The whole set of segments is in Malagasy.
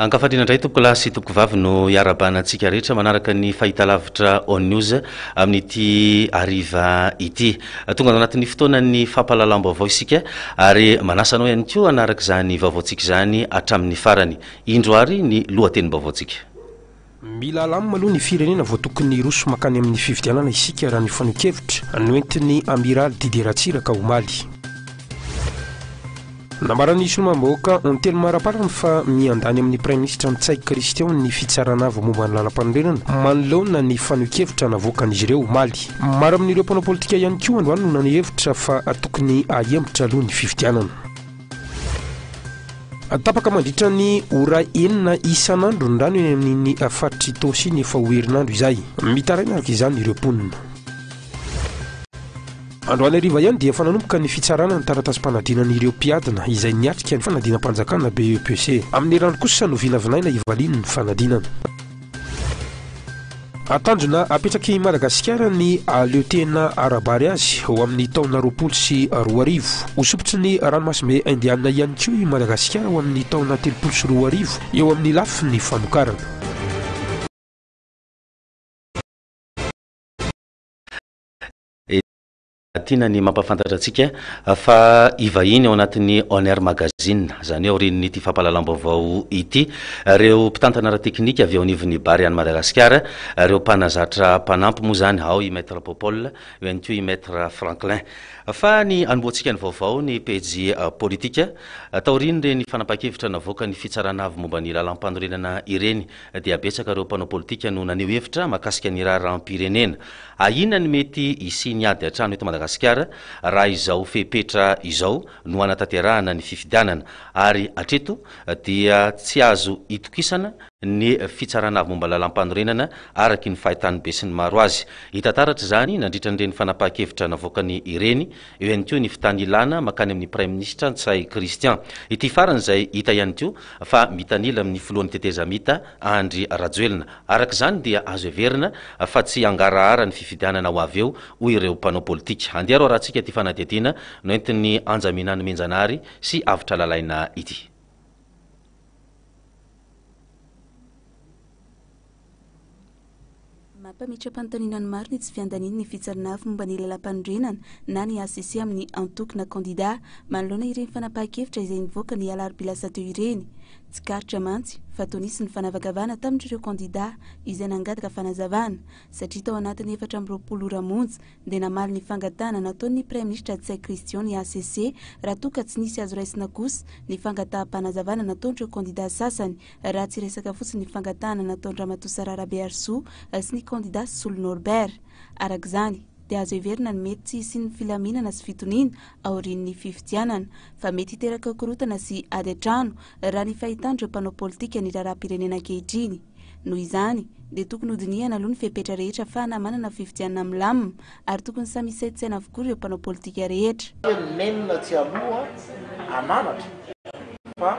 Ankafanina indray tompokolahy sy tompokovavy no iarabana antsika rehetra manaraka ny fahitalavitra On News amin'ity ariva ity. Tonga ao anatin'ny fotoanan'ny fampahalalam-baovao isika ary manasa anao ihany koa hanaraka izany vaovaontsika izany hatramin'ny farany. Indro ary ny lohatenim-baovaontsika. Mila alam aloha ny firenena vao tokony hiroso mankany amin'ny fifidianana isika raha ny fanehoan-kevitra noentin'ny Amiraly Didier Ratsiraka omaly. Nambaran'ny Solombavambahoaka Ontelo Maraparany fa miandany amin'ny Praiminisitra Ntsay Christian ny fitsarana avo momba ny lalampanorenana manoloana ny fanehoan-kevitra navoakan'izy ireo omaly. Maro amin'ireo mpanao politika ihany koa androany no naneho hevitra fa tokony ahembotra aloha ny fifidianana. Tapaka mandritra ny ora enina isan'andro ny rano eny amin'ny faritr'i Tosy iny efa ho herinandro izay. Mitaraina araka izany ireo mponina. Androany hariva ihany dia efa nanomboka ny fitsarana ny taratasim-panadinana ireo mpiadina izay niatrika ny fanadinam-panjakana, BEPC. Amin'ny rano kosa no vinavinaina hivalian'ny fanadinana. A Tanjona apetrak'i Madagasikara ny hahaleo tena ara-bary azy ho amin'ny taona roapolo sy roa arivo. Ho sompitry ny ranomasimbe Indianina ihany koa i Madagasikara ho amin'ny taona telopolo sy roa arivo eo amin'ny lafiny famokarana. Tiana ny mampafantatra antsika fa hivahiny ao anatin'ny On Air Magazine, izany hoe aorian'ity fampahalalam-baovao ity, ireo mpitantana ara-teknika avy ao anivon'ny Bary any Madagasikara, ireo mpanazatra mpanampy moa izany, ao i Maître Popol, eo ihany koa i Maître Franklin. Fa ny hanombohantsika ny vaovao, ny pejy politika, taorian'ireny fanapahan-kevitra navoakan'ny Fitsarana Avo momba ny Lalàmpanorenana ireny, dia betsaka ireo mpanao politika no naneho hevitra mahakasika ny raharaham-pirenena. Ahiana ny mety hisian'ny ady an-trano eto Madagasikara raha izao fepetra izao no hanatanterahana ny fifidianana ary hatreto dia tsy azo itokisana ny Fitsarana avy momba ny Lalàmpanorenana araky ny fahitan'ny besinimaro azy. Hita taratra izany nandritra an'ireny fanapahan-kevitra navoakany ireny Eo ihany koa ny fitanilana mankany amin'ny Praiminisitra Ntsay Christian. Ity farany izay hita ihany koa fa mitanila amin'ny filohan'ny tetezamita Andry Rajoelina. Araka izany dia azo heverina fa tsy hangarahara ny fifidianana ho avy eo hoy ireo mpanao politika. Andeha aloha arahantsika ity fanadihadiana noentin'i Anjamena Nomenjanahary sy Avotra Lalaina ity. Mampametra-panontaniana ny maro ny tsy fiandaniany ny fitsarana momba ny Lalàmpanorenana na ny hcc amin'ny antoko na kandidà manoloana ireny fanapahan-kevitra izay nivoaka ny alarobia lasa teo ireny. Tsikaritra mantsy fa toa nisy ny fanavakavahana tamin'ireo kandidà izay nangataka fanazavana satria tao anatin'ny efatra amby roapolo ora monja dia namaly ny fangatahana nataon'ny Praiminisitra Ntsay Christian ny hcc raha toa ka tsy nisy azo raisina kosa ny fangataham-panazavana nataon'ireo kandidà sasany raha tsy resaka fotsiny ny fangatahana nataon-dRamatoa Sarah Rabearisoa sy ny kandida Solo Norbert. Araka izany, dia azo heverina ny mety tsy hisian'ny filaminana sy fitoniana aorian'ny fifidianana, fa mety hiteraka korontana sy ady an-trano, raha ny fahitan'ireo mpanao politika ny raharaham-pirenena ankehitriny. Noho izany, dia tokony hodinihana aloha ny fepetra rehetra afahana manana fifidianana milamina, ary tokony samy hisaintsaina avokoa ireo mpanao politika rehetra. Nenina tsy aloha ananatra fa.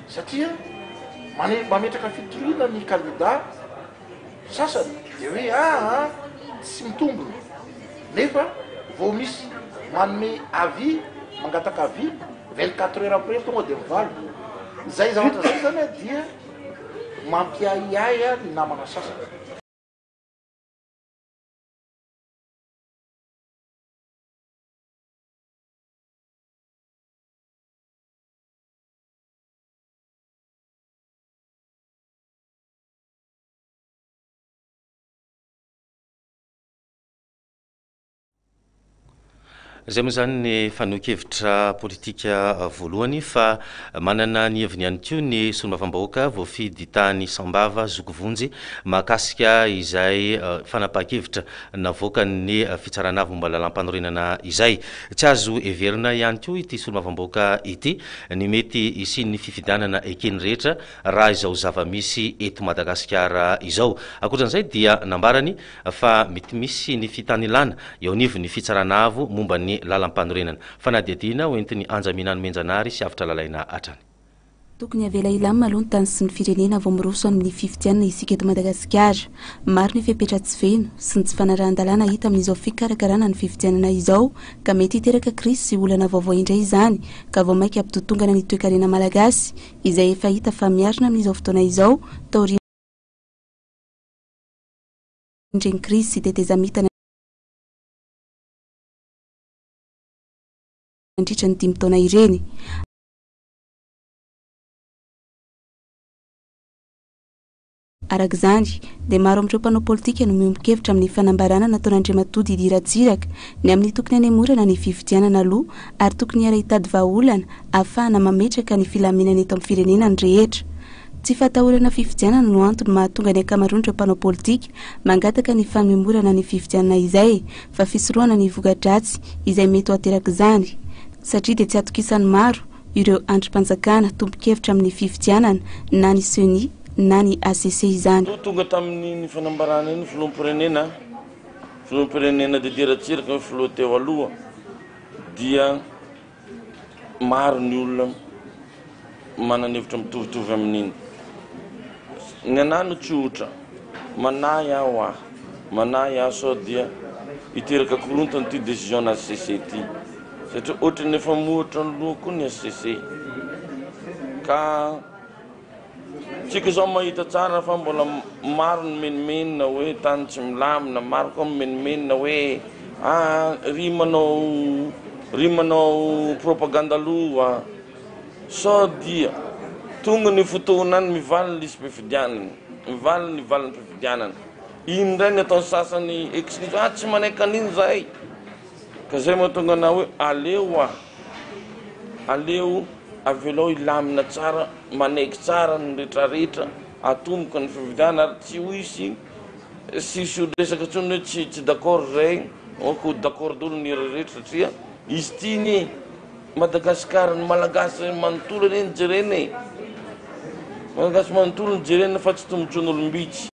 Satria mane mametraka fitoriana ny kandida sasany dia hoe aa tsy mitombina nefa vao misy manome avis mangataka avis vingt quatre heures après tonga dia mivaly. Izay zavatra izay zany a dia mampiahiahy a ny namana sasany. Izay moa izany ny fanehoan-kevitra politika voalohany fa manana ny heviny ihany koa ny solombavambahoaka voafidy tany Sambava zoky vonjy mahakasika izay eh, fanapahan-kevitra navoakan'ny Fitsarana avy momba ny Lalàmpanorenana izay. Tsy azo heverina ihany koa ity Solombavambahoaka ity ny mety hisian'ny fifidianana eken'ny rehetra raha izao zava-misy eto Madagasikara izao. Ankoatran'izay dia nambarany fa mety misy ny fitanilana eo anivon'ny Fitsarana avo momba ny Lalàmpanorenana fanadihadiana ho entin'ny Anjamiana Nomenjanahary sy avotra lalaina hatrany. Tokony avela hilamina aloha ny tany sy ny firenena vao miroso amin'ny fifidianana isika eto Madagasikara. Maro ny fepetra tsy feno sy ny tsy fanarahan-dalàna hita amin'izao fikarakarana ny fifidianana izao ka mety hiteraka krizy sy olana vaovao indray izany ka vao mainka hampidotongana ny toekarena malagasy izay efa hita fa miarina amin'izao fotoana izao taorian'ny indreny krizy sy tetezamita nandritra ny dimy taona ireny. Araka izany, dia maro amin'ireo mpanao politika no miombon-kevitra amin'ny fanambarana nataon'Andriamatoa Didier Ratsiraka ny amin'ny tokony hanemorana ny fifidianana aloha ary tokony hiara-hitady vahaolana ahafahana mametraka ny filaminana eto amin'ny firenena ny rehetra. Tsy fahatahorana fifidianana no antony mahatonga ny ankamaroan'ireo mpanao politika mangataka ny fanemorana ny fifidianana izay fa fisorohana ny voka-dratsy izay mety ho aterak'izany satria dia tsy atokisan'ny maro ireo andrim-panjakana tompon-kevitra amin'ny fifidianana na ny ceni na ny HCC izany. Ho tonga tamin'iny fanambarana iny filoham-pirenena, filoham-pirenena Didier Ratsiraka hoe filoha teo aloha dia maro ny olona. Manana hevitra mitovitovy amin'iny. Ny anah no tsy ohatra. Manahy aho hoa. Manahy aho sao dia hiteraka korontana ity décision-na HCC ity. Satria ohatran'ny efa mohatra ny loha koa ny HCC. Ka. Tsika izao mahita tsara fa mbola maro ny menomenona hoe tany tsy milamina, maro koa mimenomenona hoe ah ry manao ry manao propaganda aloha sao dia tonga ny fotoana any mivaly ny lisi-pifidianana, mivaly ny valim-pifidianana. Iny indray ny ataon'ny sasany ex-n'iza, ah tsy manaiky an'iny izahay, ka izay mahatonga anà hoe aleo ah. Aleo avelao hilamina tsara, manaiky tsara ny retraretra, atomboka ny fifidianana ary tsy ho hisy tsy hisy olo resaka intsony hoe tsy tsy d'accord izay, ok ho d'accord daholo ny rehetra satria izy ity anie Madagascar ny Malagasy manontolo anie no jerena e, Malagasy manontolo no jerena fa tsy tombotsoan'olom-bitsy.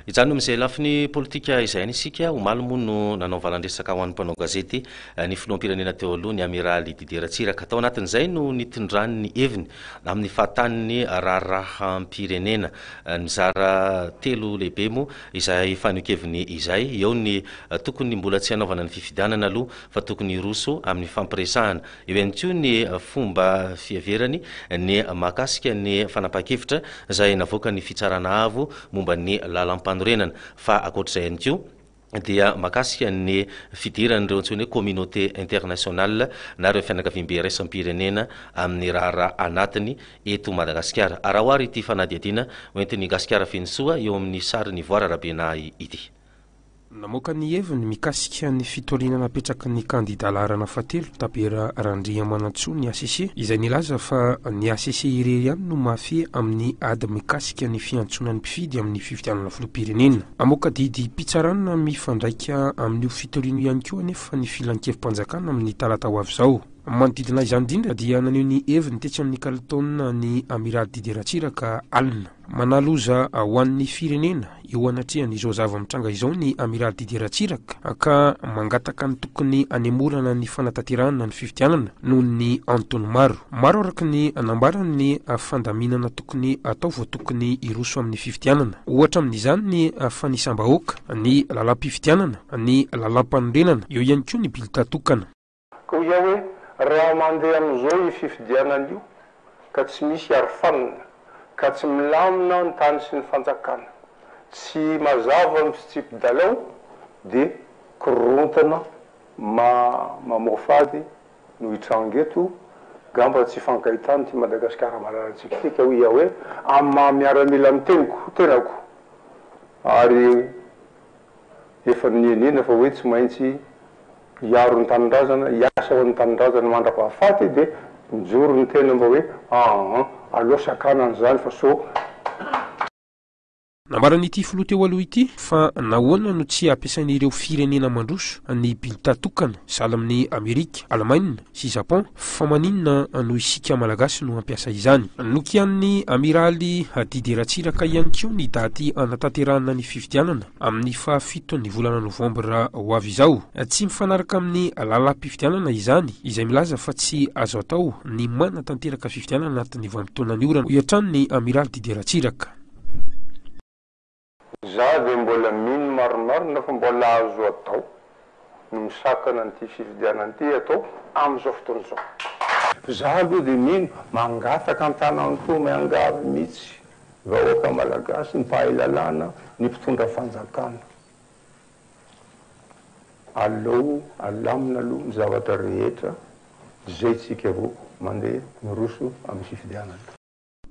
Izany no amin'izay lafiny politika izay any isika. Omaly moa no nanao valan-dresaka ho an'ny mpanao gazety ny filoham-pirenena teo aloha, ny Amiraly Didier Ratsiraka. Tao anatin'izay no nitondrany ny heviny amin'ny fahatanin'ny raharaham-pirenena. Mizara telo lehibe moa izay fanehoan-keviny izay. Eo ny tokony mbola tsy hanaovana ny fifidianana aloha fa tokony hiroso amin'ny fampiresahana Eo ihany koa ny fomba fiheverany ny mahakasika ny fanapahan-kevitra izay navoakan'ny Fitsarana Avo momba ny Lalampanorenana, fa ankoatr'izay ihany koa dia mahakasika ny fidiran'ireo antsoina hoe communauté internationale na ireo fianakaviambe iraisam-pirenena amin'ny raharaha anatiny eto Madagasikara. Araho ary ity fanadihadiana hoentin'i Gasikara Fenosoa eo amin'ny sary nivoara Rabenahy ity. Namoaka ny heviny mikasika ny fitoriana napetraky ny kandida laharana fahatelo, Tabera Randriamanantsoa ny hcc, izay nilaza fa ny hcc irery ihany no mahafehy amin'ny ady mikasika ny fiantsoana ny mpifidy amin'ny fifidianana filoham-pirenena. Hamoaka didim-pitsarana mifandraika amin'io fitoriana io ihany koa anefa ny Filankevi-panjakana amin'ny talata ho avy izao. Manodidina izany indrindra dia naneho ny heviny tetsy amin'ny kalitaonina ny Amiraly Didier Ratsiraka alina. Manaloza ho an'ny firenena eo anatrehan'izao zava-mitranga izao ny Amiraly Didier Ratsiraka ka mangataka ny tokony hanemorana ny fanatanterahana ny fifidianana noho ny antony maro. Maro araka ny nambarany ny fandaminana tokony hatao vao tokony hiroso amin'ny fifidianana. Ohatra amin'izany ny fanisam-bahoaka, ny lalam-pifidianana, ny lalàmpanorenana, eo ihany koa ny bilita tokana. Koa iao hoe raha mandeha amin'izao io fifidianana io ka tsy misy arofanina, ka tsy milamina ny tany sy ny fanjakana, tsy mazava ny fitsipi-dalao dia korontana mamoafady no hitranga eto, ngamba tsy hifankahitana ity Madagasikara malalantsika ity ka hoy iao hoe amin'ny maha miaramila ny teniko, tenako ary efa nienena fa hoe tsy maintsy hiaro ny tanindrazana, hiasa ho an'ny tanindrazana mandra-pahafaty dia mijoro ny tena mba hoe aa aleo sakana an'izany fa sao. Nambaran'ity filoha teo aloha ity fa nahoana no tsy ampiasain'ireo firenena mandroso ny binta tokana sahala amin'i Amerika, Alemaina, sy Japon fa maninona no isika Malagasy no hampiasa izany. Nokianin'ny Amiraly Didier Ratsiraka ihany koa ny daty hanatanterahana ny fifidianana amin'ny fahafiton'ny volana novambra ho avy izao. Tsy mifanaraka amin'ny lalam-pifidianana izany izay milaza fa tsy azo atao ny manatanteraka fifidianana anatin'ny vanim-potoanan'ny orana, hoy hatrany ny Amiraly Didier Ratsiraka. Za ve mbola mino marimarina fa mbola azo atao ny misakana an'ity fifidianana ity atao amin'izao fotoana izao? Za aloha dia mino, mangataka an-tanantoa miangavy mihitsy vahoaka malagasy, ny mpahay lalàna, ny mpitondra fanjakana, aleo alamina aloha ny zavatra rehetra zay tsika vao mandeha miroso amin'ny fifidianana.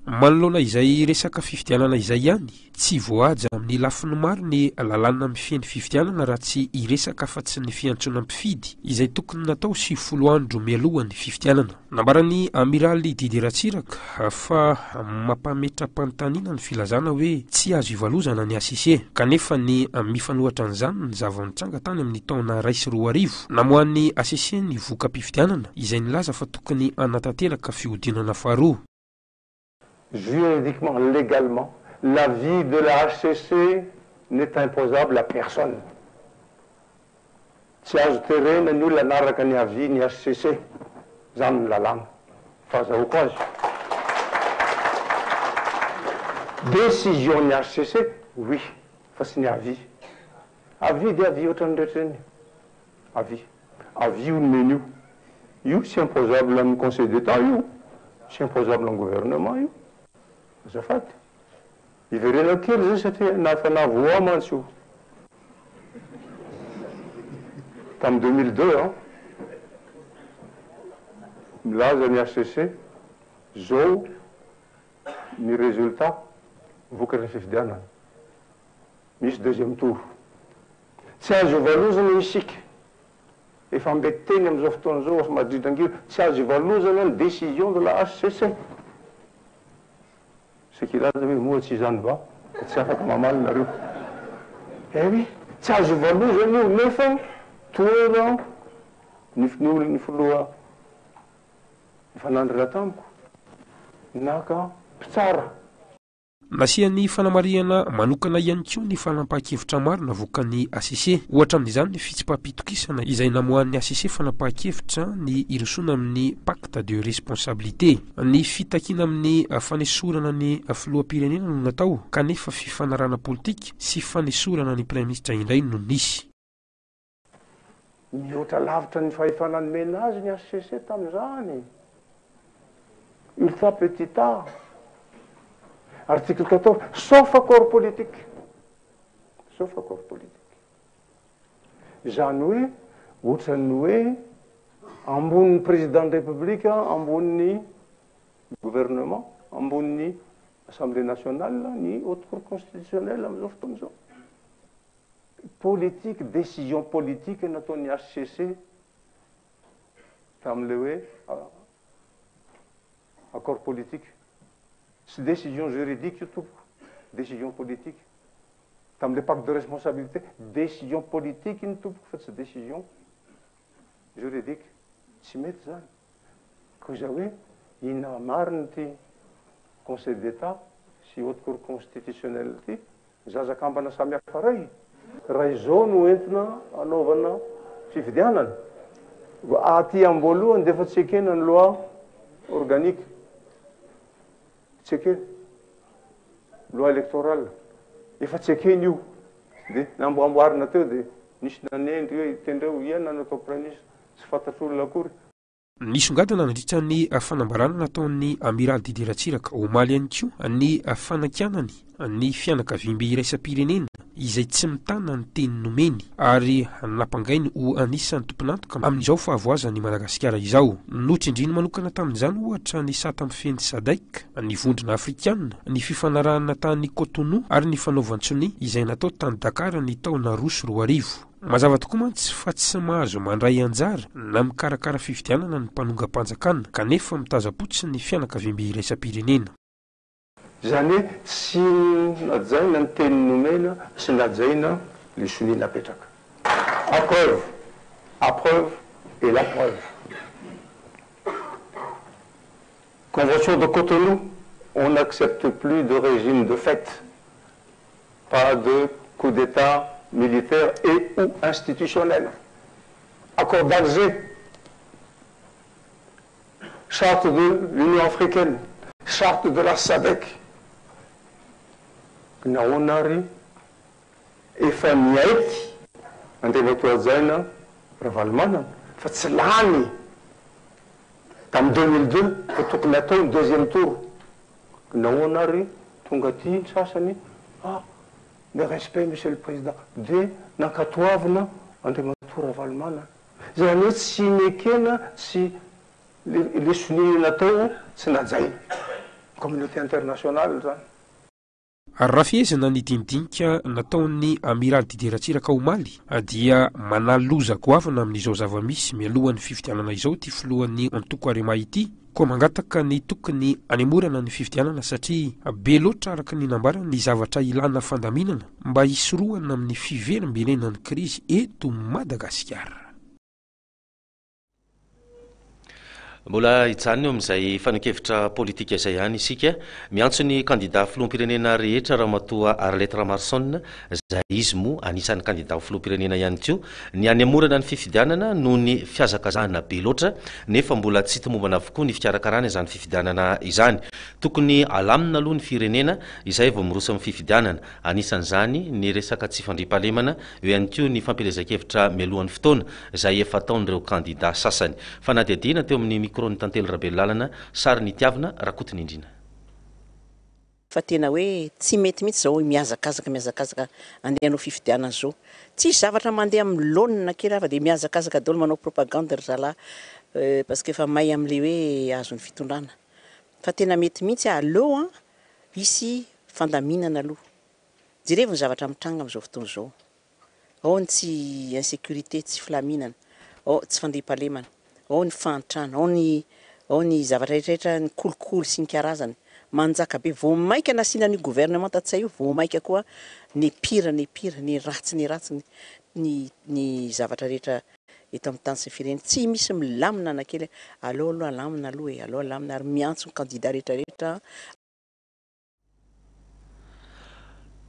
Manoloana izay resaka fifidianana izay ihany, tsy voahaja amin'ny lafiny maro ny lalàna mifehy ny fifidianana raha tsy hiresaka afa-tsy ny fiantsoana mpifidy, izay tokony natao sivifolo andro mialoha ny fifidianana. Nambaran'ny Amiraly Didier Ratsiraka fa mampametra-panontaniana ny filazana hoe tsy azo ivalozana ny HCC, kanefa ny mifanohitra an'izany ny zava-nitranga tany amin'ny taona iray sy roa arivo, namoahan'ny HCC ny voka-pifidianana izay nilaza fa tokony hanatanteraka fihodinana faharoa. Juridiquement, légalement, l'avis de la HCC n'est imposable à personne. Tsy azo terena ny olona hanaraka ny avis ny HCC. Izany ny lalàna. Fahazahoako azy. Décision ny HCC, oui, fa tsy ny avis. Avis dia avis ohatran'ny rehetra ireny. Avis. Avis io nomeny io. Io tsy imposable amin'ny conseil d'Etat io, tsy imposable amin'ny gouvernement io. Azafady. Iverenako kely zay satria na efa navoa mantsy io. Tamin'ny deux mille deux an. Milaza ny HCC zao ny resultat vokatry ny fifidianana. Misy deuxième tour. Tsy azo ivalozana io isika. Efa mbe teny amin'izao fotoana izao House Madrid angio, tsy azo ivalozana ny décision de la HCC. Sekirada hoe moa tsy izany va? Dia tsy afaka mamaly nareo. Eh oui, tsy azo ivalozana io nefa toera ny ny filoha nifanandrina tamiko naka mpitsara. Nasiany fanamarihana manokana ihany koa ny fanapahan-kevitra maro navoakan'ny hcc. Ohatra amin'izany ny fitsipaham-pitokisana izay namoahan'ny hcc fanapahan-kevitra ny hirosoana amin'ny pacte de responsabilité. Ny fitakiana amin'ny fanesorana ny filoham-pirenena no natao kanefa fifanarahana politika sy fanesorana ny Praiminisitra indray no nisy. Mihoatra lavitra ny fahefana nomena azy ny hcc tamin'izany. Ultra petit a. Article 14, sauf accord politique. Sauf accord politique. Izany hoe, ohatran'ny hoe ambonin'ny président de république, ambonin'ny gouvernement, ambonin'ny assemblée nationale ny haute cour constitutionnelle amin'izao fotoana izao. politique, décision politique nataon'ny HCC tamin'ilay hoe accord politique. Tsy décision juridique io tompoko, décision politique. Tamin'ilay pacte de responsabilité, décision politique iny tompoko fa tsy décision juridique. Tsy mety izany. Koa izay hoe inona marina ity Conseil d'Etat sy Haute Cour Constitutionnelle ity? Zaza kambana samihafa iray? Raha izao no entina anaovana fifidianana, aty am-boalohany dia efa tsy ekena ny loi organique, tsy ekena, loi électorale, efa tsy ekena io. Dia namboamboarina teo dia nisy nanendry hoe tendreo, ianona no atao Praiminisitra. Tsy fantatr'olona akory. Nisongadina nandritra ny fanambarana nataon'ny Amiraly Didier Ratsiraka, omaly ihany koa, ny fanakianany ny fianakaviambe iraisam-pirenena izay tsy mitana ny teny nomeny ary nampangainy ho anisan'ny tompon'antoka amin'izao fahavoazan'i Madagasikara izao. Notsindriany manokana tamin'izany, ohatra, ny sata mifehy ny Sadc, ny Vondrona Afrikana, ny fifanarahana tany Cotonou ary ny fanaovan-tsonia izay natao tany Dakar ny taona roa sy roa arivo. Mazava tokoa mantsy fa tsy mahazo mandray anjara na mikarakara fifidianana ny mpanongam-panjakana kanefa mitazam-potsiny ny fianakaviambe iraisam-pirenena. Izany hoe tsy najaina ny teny nomena, tsy najaina le sonia napetraka. A preuve, a preuve et la preuve. Convention de Cotonou, on n'accepte plus de regime de fait Pas de coup d'Etat militaire et ou institutionnel. Accord d'Alger, charte de l'Union africaine, charte de la Sadec. Nahoana ary efa niaiky Andriamatoa Hajaina Ravalomanana fa tsy lany tamin'ny deux mille deux fa tokony hatao ny deuxième tour. Nahoana ary tonga aty ny sasany fa le respect monsieur le président dia nankatoavina Andriamatoa Ravalomanana. Izany hoe tsy nekena tsy le le sonia natao tsy najaina. Communauté internationale zany. Raha fehezina ny dinidinika nataon'ny Amiraly Didier Ratsiraka omaly dia manà loza goavana amin'izao zava-misy mialohan'ny fifidianana izao ity filohan'ny antoko Arema ity koa mangataka ny tokony hanemorana ny fifidianana satria be loatra araka ny nambarany ny zavatra ilàna fandaminana mba hisorohana amin'ny fiverimberenan'ny krizy eto Madagasikara. Mbola hijanona eo amin'izay fanehoan-kevitra politika izay ihany isika. Miantso ny kandida filoham-pirenena rehetra Ramatoa Arlette Ramaroson, izay izy moa anisan'ny kandida ho filoham-pirenena ihany koa, ny hanemorana ny fifidianana noho ny fihazakazahana be loatra nefa mbola tsy tomombana avokoa ny fikarakarana izany fifidianana izany. Tokony halamina aloha ny firenena izay vao miroso amin'ny fifidianana. Anisan'izany ny resaka tsy fandriampahalemana, eo ihany koa ny fampielezan-kevitra mialohan'ny fotoana, izay efa ataon'ireo kandidà sasany. Fanadihadiana teo amin'ny micro-n'i Tantely Rabelolalana, sary Nitiavina Rakotonindrina. Fa tena hoe tsy mety mihitsy izao hoe mihazakazaka mihazakazaka andeha hanao fifidianana izao. Tsisy zavatra mandeha amin'ny laonina kely hafa dia mihazakazaka daholo manao propagande ry zalahy euh parce que efa may amin'ilay hoe azon'ny fitondrana. Fa tena mety mihitsy aleo an! Hisy fandaminana aloha. Jerevo ny zavatra mitranga amin'izao fotoana izao. Ao ny tsy insecurite, tsy filaminana, ao tsy fandriampahalemana, ao ny fahantrana, ao ny ao ny zavatra rehetra rehetra, ny kolikoly sy ny karazany manjaka be. Vao maika nasiana an'io gouvernement Ntsay io vao maika koa n'est pire n'est pire, ny ratsy ny ratsy ny ny ny zavatra rehetra. eto amin'ny tany sy ny firenena, tsy misy milamina na kely, aleo aloha alamina aloha e, aleo alamina ary miantso ny kandida rehetra rehetra an.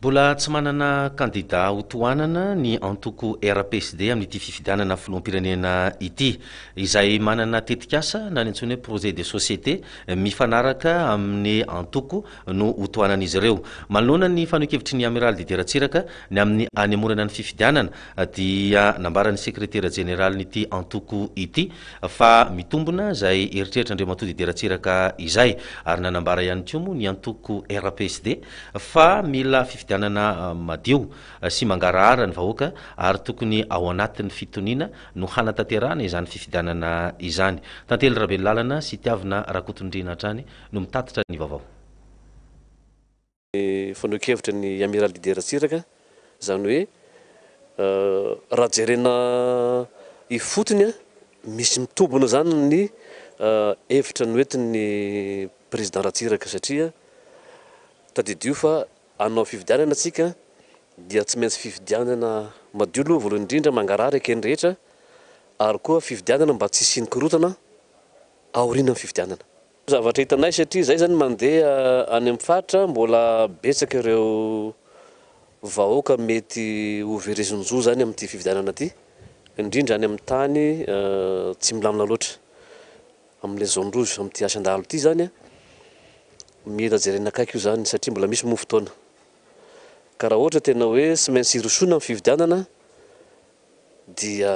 Mbola tsy manana kandida ho tohanana ny antoko RPSD amin'ity fifidianana filoham-pirenena ity. Izay manana tetikasa na ny antsoina hoe projet de société mifanaraka amin'ny antoko no ho tohanan'izy ireo. Manoloana ny fanehoan-kevitry ny Amiraly Didier Ratsiraka ny amin'ny hanemorana ny fifidianana, dia nambaran'ny sekretera jeneralin'ity antoko ity fa mitombona izay eritreritran'Andriamatoa Didier Ratsiraka izay ary nanambara ihany koa moa ny antoko RPSD fa mila fifidianana madio sy mangarahara ny vahoaka ary tokony ao anatin'ny fitoniana no hanatanterahana izany fifidianana izany. Tantely Rabelolàlana sy Tiavina Rakotondriana hatrany no mitatitra ny vaovao. Ny fanehoan-kevitry ny Amiral Didier Ratsiraka, izany hoe raha jerena ifotony, misy mitobona izany ny hevitra noentin'ny Président Ratsiraka satria tadidio fa hanao fifidianana isika dia tsy maintsy fifidianana madio aloha voalohany indrindra, mangarahara eken'ny rehetra ary koa fifidianana mba tsy hisian'ny korontana aorianan'ny fifidianana. Zavatra hitanay satria izahay izany mandeha any amin'ny faritra, mbola betsaka ireo vahoaka mety ho verezin-jo izany amin'ity fifidianana ity, indrindra any amin'ny tany tsy milamina loatra, amin'ilay zone rouge, amin'ity Asan-dahalo ity izany. Mila jerena akaiky io izany satria mbola misy moa fotoana. Ka raha ohatra tena hoe tsy maintsy hirosoana amin'ny fifidianana dia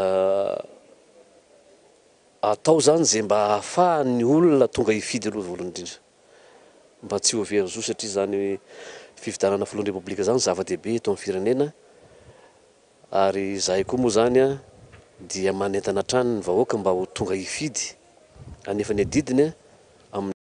Atao izany izay mba ahafahan'ny olona tonga hifidy aloha voalohany indrindra. Mba tsy ho very zo satria izany fifidianana filohan'ny Repoblika izany zava-dehibe eto amin'ny firenena ary izahay koa moa izany dia manentana hatrany ny vahoaka mba ho tonga hifidy anefa ny adidiny amin'ny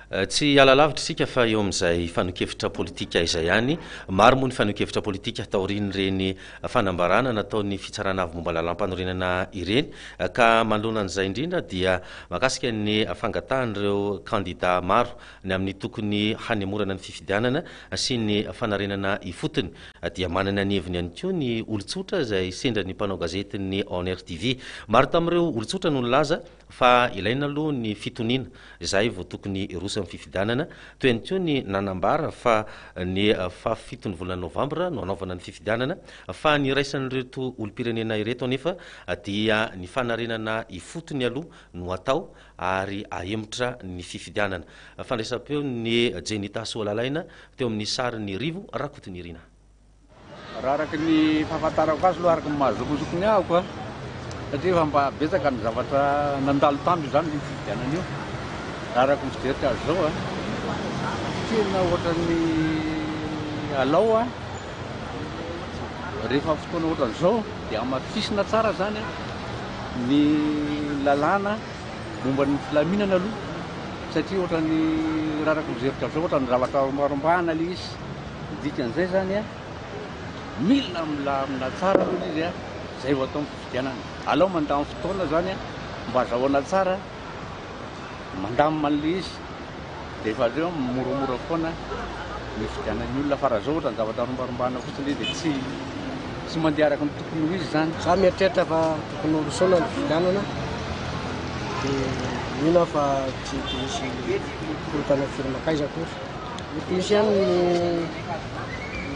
Tsy hiala lavitra isika fa eo amin'izay fanehoan-kevitra politika izay ihany. Maro moa ny fanehoan-kevitra politika taorian'ireny fanambarana nataon'ny Fitsarana Avo momba ny Lalàmpanorenana ireny ka manoloana an'izay indrindra dia mahakasika ny fangatahan'ireo kandidà maro ny amin'ny tokony hanemorana ny fifidianana sy ny fanarenana ifotony dia manana ny heviny ihany koa ny olon-tsotra izay sendra ny mpanao gazetin'ny Onr TV. Maro tamin'ireo olon-tsotra no nilaza Fa ilaina aloha ny fitoniana, izay vao tokony hiroso amin'ny fifidianana. Toy ihany koa ny nanambara fa ny faha fito ny volana novambra no hanaovana ny fifidianana. Fa ny iraisan'ireto olom-pirenena ireto anefa dia ny fanarenana ifotony aloha no atao ary ahemotra ny fifidianana. Fandraisam-peon'ny Jenny Tasoa Lalaina teo amin'ny sarin'i Rivo Rakotonirina. Raha araka ny fahafantarako azy aloha, araka ny maha zokizoky ny ahiko a, satria efa mba betsaka ny zavatra nandalo tamiko izany io fifidianana io, raha araka ny fijeriko azy izao a, tena ohatran'ny alao a, rehefa fotoana ohatran'izao dia hamafisina tsara izany a, ny lalàna momba ny filaminana aloha, satria ohatran'ny, raha araka ny fijeriko azy izao, ohatran'ny zavatra rombahana ilay izy. Ny dikan'izay izany, mila milamina tsara aloha ilay izy, izay vao atao ny fifidianana. Alao mandany fotoana izany mba azahoana tsara, mandamina an'ilay izy, dia efa avy eo moramora foana ny hifidianan'ny olona, fa raha izao ohatran'ny zavatra rombarimbana fotsiny dia tsy mandeha araka ny tokony ho izy izany. Izaho mieritreritra fa tokony horosoana ny fifidianana, dia mino aho fa tsy hisy korontana firy mankaiza akory. Misy ihany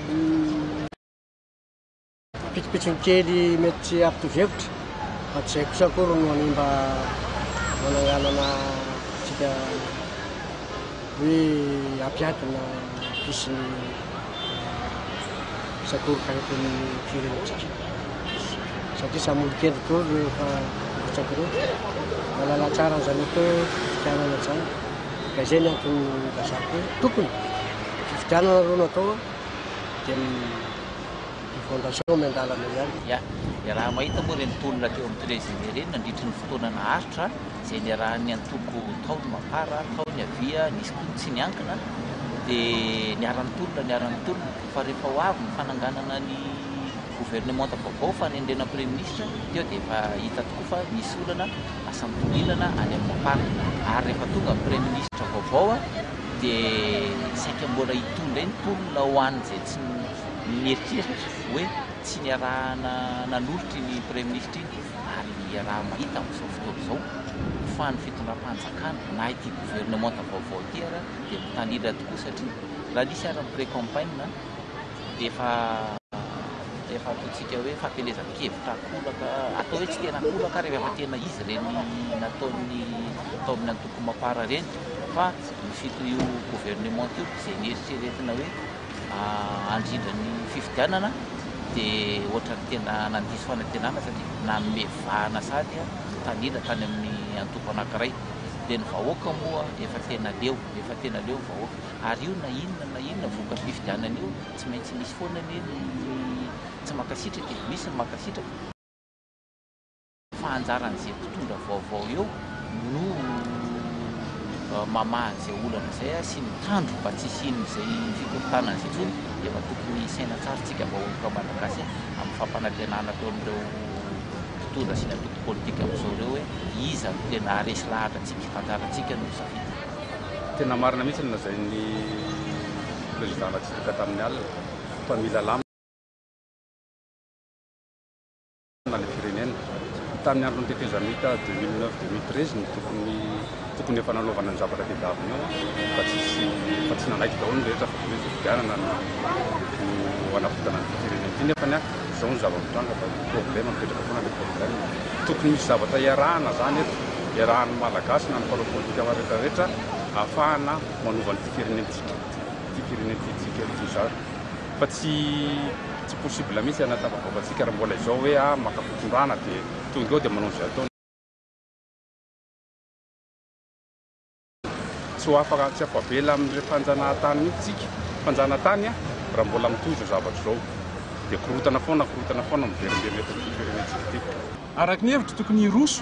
ny pitsopitsony kely mety tsy hampitovy hevitra fa tsy izay kosa akory no hanimba fananganana antsika hoe hampiato na hampisy ny sakoroka eto amin'ny firenentsika. Satria samy olon-kendry koa rehefa mirotsaka ireo. Mahalala tsara an'izany atao fifidianana izany. Ka izay ny antony nilazako hoe tokony fifidianana aloha no atao dia ny fondation miandalana ihany. Ya, dia raha mahita moa ireny tolona teo amin'ny Trezery ireny nandritry ny fotoana naharitra izay niarahan'ny antoko tao ny Mapar, tao ny Avia, nisy koa ny tsy niankina dia niara-nitolona, niara-nitolona fa rehefa ho avy ny fananganana ny governemanta vaovao fanerena praiminisitra teo dia efa hita tokoa fa nisy olana asa mitongilana any amin'ny Ampara ary rehefa tonga ny praiminisitra vaovao dia saika mbola hitondra eny mponina ho any izay tsy mieritreritra hoe tsy niarahana nanolotra iny praiminisitra iny ary iaraha mahita amin'izao fotoana izao fa ny fitondram-panjakana na ity governemanta vaovao ity ary dia mitanila tokoa satria raha nisy ary ny pré-campagne dia efa efa ataontsika hoe fampielezan-kevitra an-kolaka, atao hoe tsikera an-kolaka ary efa tena izy ireny nataon'ny tao amin'ny antoko Mapar ireny fa ny fito io gouvernement io izay nieritreretina hoe handrindra ny fifidianana dia ohatran'ny tena nandiso fanantenana satria nanome vahana sady ny tanila tany amin'ny antoko anankiray dia ny vahoaka moa efa tena leo, efa tena leo ny vahoaka. Ary io na inona na inona vokatry io fifidianana io tsy maintsy misy foana anie ny tsy mankasitraka e, misy ny mankasitraka, fa anjaran'izay mpitondra vaovao eo no mamaha an'izay olana izay sy mitandro mba tsy hisian'izay fikorontanana izay intsony, efa tokony hisaina tsara tsika vahoaka malagasy amin'ny fampanantenana atao amin'ireo mpitondra sy ny antoko politika amin'izao ireo hoe iza no tena haharesy lahatra antsika, anjarantsika no misafidy. Tena marina mihitsy ny lazain'ny Président Ratsiraka tamin'ny alina fa mila lamina ilay firenena. Tamin'ny andron'ny tetezamita deux mille neuf, deux mille treize no tokony tokony efa nanaovana ny zavatra tedavina eo an, fa tsisy fa tsy nanaiky daholo ny rehetra fa dia hoe fifidianana no no hanavotana an'ity firenena ity nefany an. Izao no zava-mitranga fa problème mipetraka foana le problème. Tokony misy zavatra iarahana zany eto, iarahan'ny Malagasy na ny mpanao politika rehetra rehetra ahafahana manova an'ity firenentsika ity firenentsika ity zany fa tsy tsy possible mihitsy hanatafavoakantsika raha mbola izao hoe ah maka fitondrana dia tonga eo dia manao izay ataony. Tsy ho afa tsy afa-bela amin'ireny fanjanahantany mihitsy isika, fanjanatany a! raha mbola mitohy izao zavatra izao dia korotana foana, korotana foana miverimberina eto amin'ity firenentsika ity. Araka ny hevitro tokony hiroso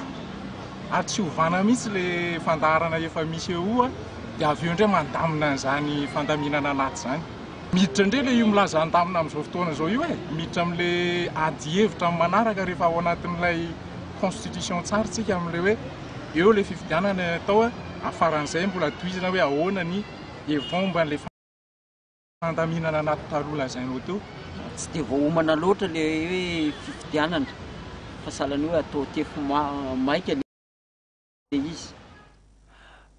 ary tsy hovana mihitsy ilay fandaharana efa misy eoa dia avy eo indray mandamina an'izany fandaminana anaty izany. Miditra indray ilay io milaza handamina amin'izao fotoana izao io e! Miditra amin'ilay ady hevitra amin'ny manaraka rehefa ao anatin'ilay constitution tsara isika amin'ilay hoe. eo ilay fifidianana atao a, afaran'izay mbola tohizana hoe ahoana ny hevitrao momba an'ilay fandaminana anaty taloha lazainao teo. Tsy dia voaomana loatra ilay hoe fifidianana fa sahala ny hoe atao tefy maika ilay izy.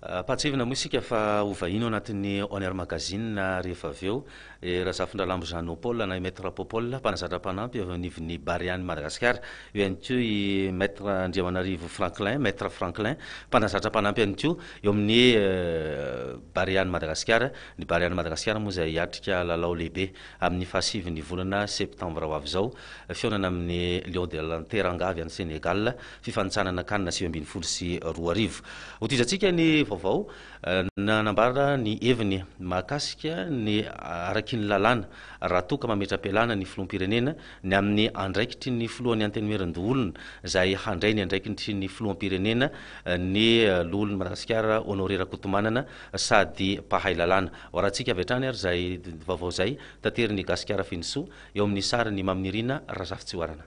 Ampahatsiahivina moa isika fa ho vahiny ao anatin'ny On Air Magazine rehefa avy eo. I Razafindralambo Jeannot Paul na i Maître Popol, mpanazatra mpanampy eo anivon'ny Barea-n'i Madagasikara. Eo ihany koa i Maître Andriamanarivo Franklin, Maître Franklin, mpanazatra mpanampy ihany koa eo amin'ny Barea-n'i Madagasikara. Ny Barea-n'i Madagasikara moa izay hiatrika lalao lehibe amin'ny fahasivin'ny volana septambra ho avy izao, fihaonana amin'ny Lions de la Teranga avy any Sénégal, fifanintsanana can sivy ambin'ny folo sy roa arivo. Hotohizantsika ny vaovao. Nanambara ny heviny mahakasika ny araky ny lalàna raha toa ka mametra-pialana ny Filoham-pirenena ny amin'ny andraikitry ny Filohan'ny Antenimierandoholona izay handray ny andraikitry ny Filoham-pirenena ny Loholon'i Madagasikara Honoré Rakotomanana sady mpahay lalàna. Hoarantsika avy hatrany ary izay vaovao izay taterin'i Gasikara Fenosoa eo amin'ny sarin'i Maminirina Razafitsihoarana.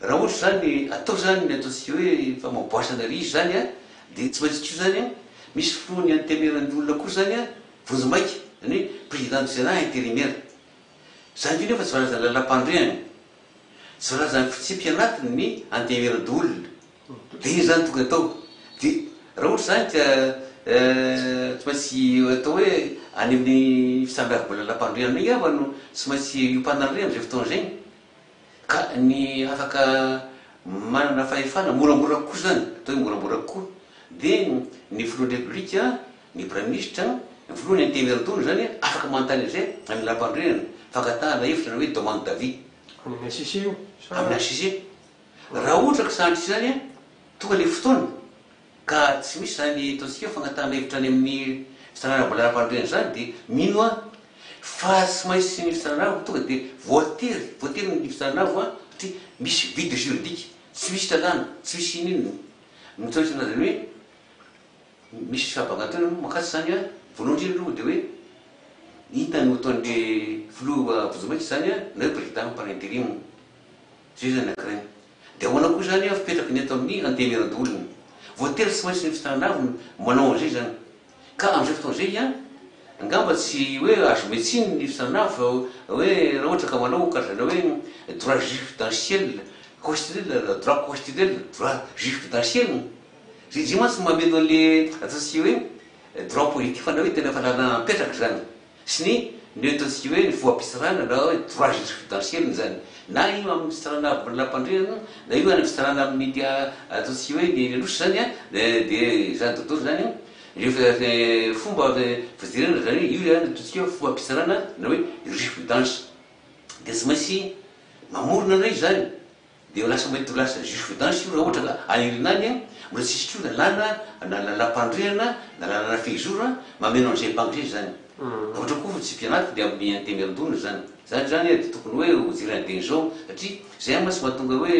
Raha ohatra izany atao izany ny ataontsika hoe famaboasana riz izany an, dia tsy maintsy koa izany an, misy filohan'ny antenimieran'ny olona koa izany an, vonjimaika, izany hoe président du sénat intérimaire. Izany koa nefa tsy voalazan'ny lalampanorenana, tsy voalazan'ny fitsipiky anatiny ny antenimieran-doholona. Dia iny izany tokony atao. Dia raha ohatra izany dia tsy maintsy atao hoe any amin'ny fisambiavimbola lalampanorenana iny angamba no tsy maintsy hiompanana ireny amin'izay fotoana izay. Ka ny afaka manana fahefana, moramora kokoa izany, atao hoe moramora kokoa, dia ny filohan'ny Repoblika, ny Praiminisitra, ny filoha, ny Antenimiera-doholona izany afaka manontany an'izay amin'ny Lampanorenana, fangatahana hevitra na hoe demande d'avis. Amin'ny HCC io sa? Amin'ny HCC. Raha ohatra ka sahantr'izany, tonga ilay fotoana. Ka tsy misy izany ataontsika hoe fangatahan'hevitra any amin'ny fitrandrahana vola ara-panorenana izany dia mino aho fa tsy maintsy ny fitrandrahana tonga dia voatery, voatery ny fitrandrahana satria misy vide juridique, tsy misy lalàna, tsy misy ininona. Mitraotra an'azy ireo hoe misy fahabangantoana aloha mankatso izany an, voalohany indrindra aloha dia hoe inona no ataon'ilay filoha vozon'maika izany an, na hoe président par interim. Zay zany ankiray. Dia ahoana koa izany an fipetrako ny eto amin'ny Antenimierandoholona. Voatery tsy maintsy ny fitanana avy no manao an'izay izany. Ka amin'izay fotoana izay hiany, angamba tsy hoe azo omena tsiny ny fitanana avy fa hoe raha ohatra ka manao karazana hoe droit jurisprudentiel, constitutionnel, droit constitutionnel, droit jurisprudentiel. Zay izay mantsy no mameno an'ilay ataontsika hoe droit politique fa na hoe tena efa lalana mipetraka izany. Sy ny ny ataontsika hoe ny foha-pitsarana na hoe droit jurisprudentiel-ny izany. Na io amin'ny fitsarana avy amin'ny lampandriana, na io any fitsarana amin'ny dia ataontsika hoe ny eny Anosy izany an, dia izany dodoro izany an, ireo fomba fijerena izany hoe io izany no ataontsika hoe foha-pitsarana na hoe jurisprudence. Dia tsy maintsy mamorona an'ireo izany. Dia ho lasa mety ho lasa jurisprudence io raha ohatra ka aherina any an, mbola tsisy koa lalàna na lalampandrehana na lalàna fehizoro an, mameno an'izay banky izay izany. Raha ohatra koa fa tsy mpianatrika dia amin'ny antenimiandona izany. Izany izany an dia tokony hoe ho jerena dieny izao satria izay an mantsy mahatonga hoe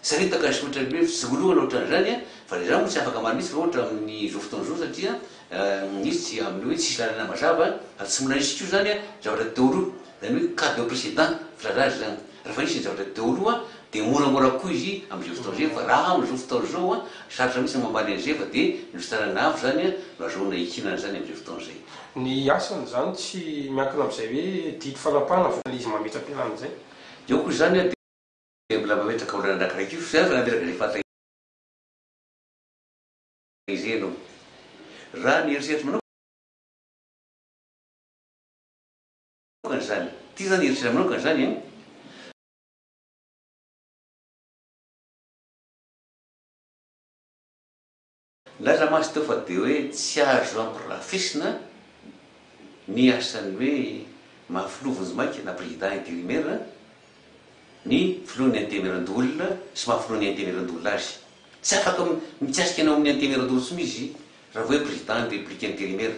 saritaka sy ohatra ny hoe fitsingoloana ohatra an'izany an, fa izany moa tsy afaka manitsy raha ohatra amin'izao fotoana izao satria an izy tsy amin'ny hoe tsisy lalana mazava fa tsy mbola nisy koa izany an zavatra teo aloha. Zany hoe cas de précedent filazana zany. Raha efa nisy ny zavatra teo aloha dia moramora kokoa izy amin'izao fotoana izay fa raha amin'izao fotoana izao sarotra mihitsy ny mamaly an'izay fa dia ny fitsarana avo zany no azahoana hihinana zany amin'izay fotoana izay. Ny asany zany tsy miankina amin'izay hoe didy fanapahana vokany izy mametra-pialana izay. Eo koa izany dia mbola mametraka olana andraikiraiky io zany raha nametraka izay fahataizana izay ianao. Raha ny eritreritro manokana. Kany zany. Ty zany eritrereto manokana zany an. Nilaza mantsy teo fa de hoe tsy azo ampirafesina ny asan'ny hoe maha filoha vonjimaika na président intérimaire ny filohan'ny antemieran-doholona sy maha filohan'ny antemieran-doholona azy. Tsy afaka mikasika ny ao amin'ny antemieran-doholona intsony izy raha vao hoe président ny république intérimaire.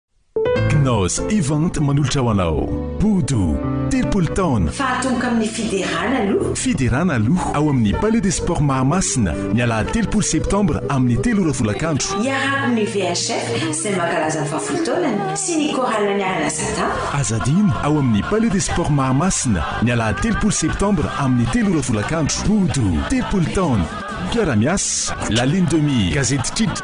Knaus Event manolotra ho anao Bodo, telopolo taona. Fahatongoka amin'ny Fiderana aloha. Fiderana aloha ao amin'ny Palais des Sports Mahamasina ny alahady telopolo septambra amin'ny telo ora folakandro. Iarahako amin'ny VHF izay mankalaza ny fahafolo taonany sy ny Chorale Niarana Satan. Aza adino ao amin'ny Palais des Sports Mahamasina ny alahady telopolo septambra amin'ny telo ora folakandro. Bodo, telopolo taona. Mpiara-miasa, La Lune de Mire, Gazety Trit.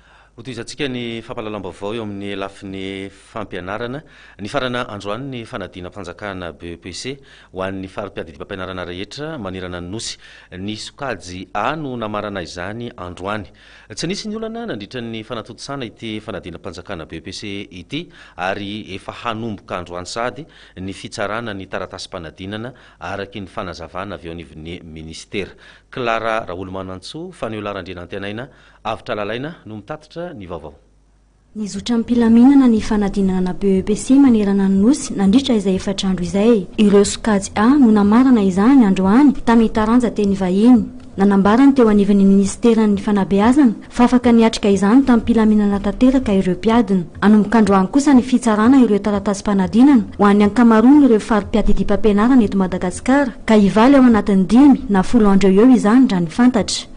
Hotohizantsika ny fampahalalam-baovao eo amin'ny lafiny fampianarana. Nifarana androany ny fanadinam-panjakana, BEPC, ho an'ny fari-piadidiam-pampianarana rehetra manerana ny Nosy. Ny sokajy A no namarana izany androany. Tsy nisy ny olana nandritra ny fanatontosana ity fanadinam-panjakana BEPC ity ary efa hanomboka androany sahady ny fitsarana ny taratasim-panadinana araky ny fanazavana avy eo anivon'ny minisitera. Clara Raholomanantsoa, Faniola Randrianantenaina Avotra Lalaina no mitatitra ny vaovao. Nizotra am-pilaminana ny fanadinana ana BEPC manerana ny Nosy nandritra izay efatra andro izay. Ireo sokajy A no namarana izany androany tamin'ny taranja teny vahiny. Nanambara ny teo anivon'ny minisiteran'ny fanabeazana fa afaka niatrika izany tamim-pilaminana tanteraka ireo mpiadina. Hanomboka androany kosa ny fitsarana ireo taratasim-panadinana ho an'ny ankamaroan'ireo fari-piadidiam-pampianarana eto Madagasikara ka hivaly ao anatin'ny dimy na folo andro eo ho eo izany raha ny fantatra.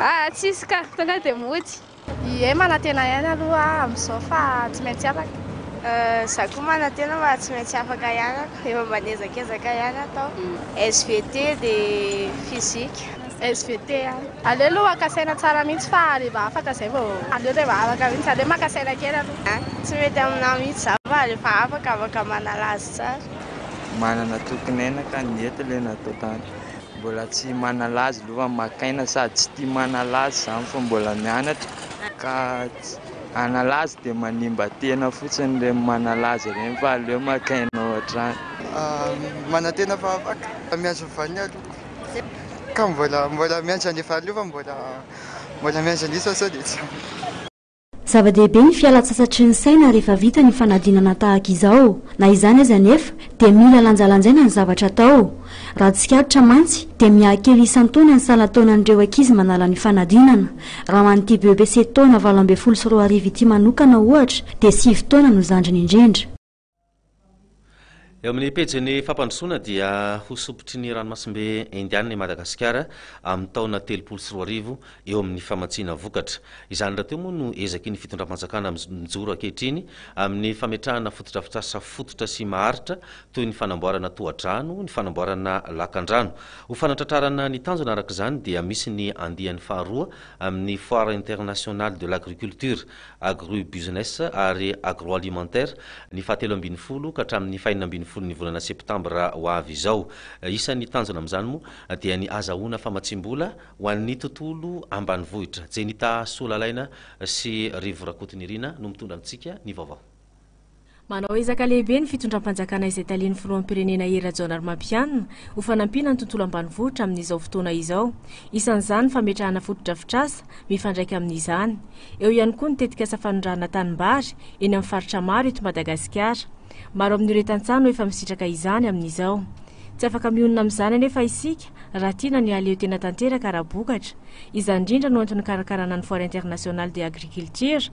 Aa tsisy ka, tonga dia mody. Ie manantena ihany aloha aho amin'izao fa tsy maintsy afaka. Aa za koa manantena fa tsy maintsy afaka ihany aho, efa mba niezakezaka ihany aho tao. Svt dia physique. Svt ihany. Aleo aloha haka saina tsara mihitsy fa rehefa afaka izay vao. Aleo rehefa afaka mihitsy, aleo maka saina kely aloha. Aa tsy mety aminah mihitsy za fa rehefa afaka, afaka manala azy tsara. Manana tokin'aina ka ny eto ilay natao tany. Mbola tsy manala azy aloha maka aina sady tsy tia manala azy izany fa mbola mianatra ka tsy hanala azy dia manimba tena fotsiny ireny manala azy ireny fa aleo maka aina ao an-trano. Manantena fa afaka miantso ny vaniny aloha ka mbola miantso anefa aloha fa mbola miantso an'isa sao dia tsy ampy. Zava-dehibe ny fialan-tsasatry ny saina rehefa vita ny fanadinana tahaka izao. Na izany aza anefa, dia mila lanjalanjaina ny zavatra atao. Raha tsikaritra mantsy, dia mihakely isan-taona ny salan-taonan'ireo ankizy manala ny fanadinana. Raha ho an'ity BEPC taona valo ambin'ny folo sy roa arivo ity manokana, ohatra, dia sivy taona no zandriny indrindra. Eo amin'ny pejin'ny fampandrosoana dia ho sompitry ny ranomasimbe indianina i Madagasikara amin'ny taona telopolo sy roa arivo eo amin'ny famatsiana vokatra. Izany rahateo moa no ezaky ny fitondram-panjakana mijoro ankehitriny amin'ny fametrahana fotodrafitrasa fototra sy maharitra toy ny fanamboarana tohadrano, ny fanamboarana lakandrano. Ho fanatratrarana ny tanjona araka izany dia misy ny andiany faharoa amin'ny Foire Internationale de l'Agriculture Agribusiness ary Agroalimentaire, ny fahatelo ambin'ny folo ka hatramin'ny fahenina ambin'ny folon'ny volana septambra ho avy izao. Isan'ny tanjona amin'izany moa dia ny hazahoana famatsiam-bola ho an'ny tontolo ambanivohitra. Jenita Soa Lalaina sy Rivo Rakotonirina no mitondra amintsika ny vaovao. Manao ezaka lehibe ny fitondram-panjakana izay talian'ny Filoham-pirenena Hery Rajaonarimampianina ho fanampiana ny tontolo ambanivohitra amin'izao fotoana izao. Isan'izany ny fametrahana fotodrafitrasa mifandraika amin'izany. Eo ihany koa ny tetikasa fanondrahana tanimbary eny amin'ny faritra maro eto Madagasikara. Maro amin'ireo tantsaha no efa misitraka izany amin'izao. Tsy afaka mionona amin'izany anefa isika raha tiana ny hahaleo tena tanteraka ara-bokatra. Izany indrindra no antony nikarakarana ny Foire Internationale de Agriculture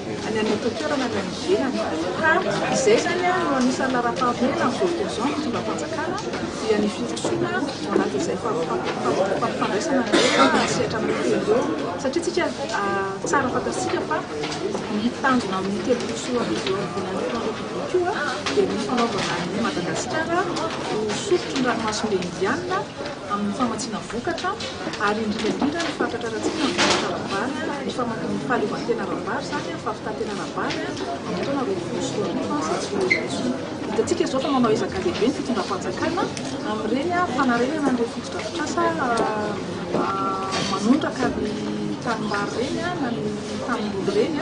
any anaty toerana ny any ivelany ka izay izany no anisan'ny laharam-pahamehana amin'izao fotoana izao ny fitondram-panjakana dia ny firosoana ao anatin'izay fifampifandraisana rehetra sehatra anankitelo ireo satria tsika tsara fantatsika fa ny tanjona amin'ny telopolo sy roa arivo eo amin'ny volan'ny filohan'ny koa dia ny fanaovana an'i Madagasikara ho sotro ny ranomasimbe Indiana amin'ny famatsiana vokatra ary indrindra indrindra ny fatratra ara-tsika amin'ny vokatra ara-bary, ny famakian'ny fahaleovantena ara-bary izany, ny fahavitan-tena ara-bary amin'ny taona roapolo sy roa arivo izay tsy ho ela intsony. Hitantsika izao fa manao ezaka lehibe ny fitondram-panjakana amin'ireny fanarenana an'ireny fotodrafitrasa manondraka ny tanimbary ireny na ny tanimboly ireny.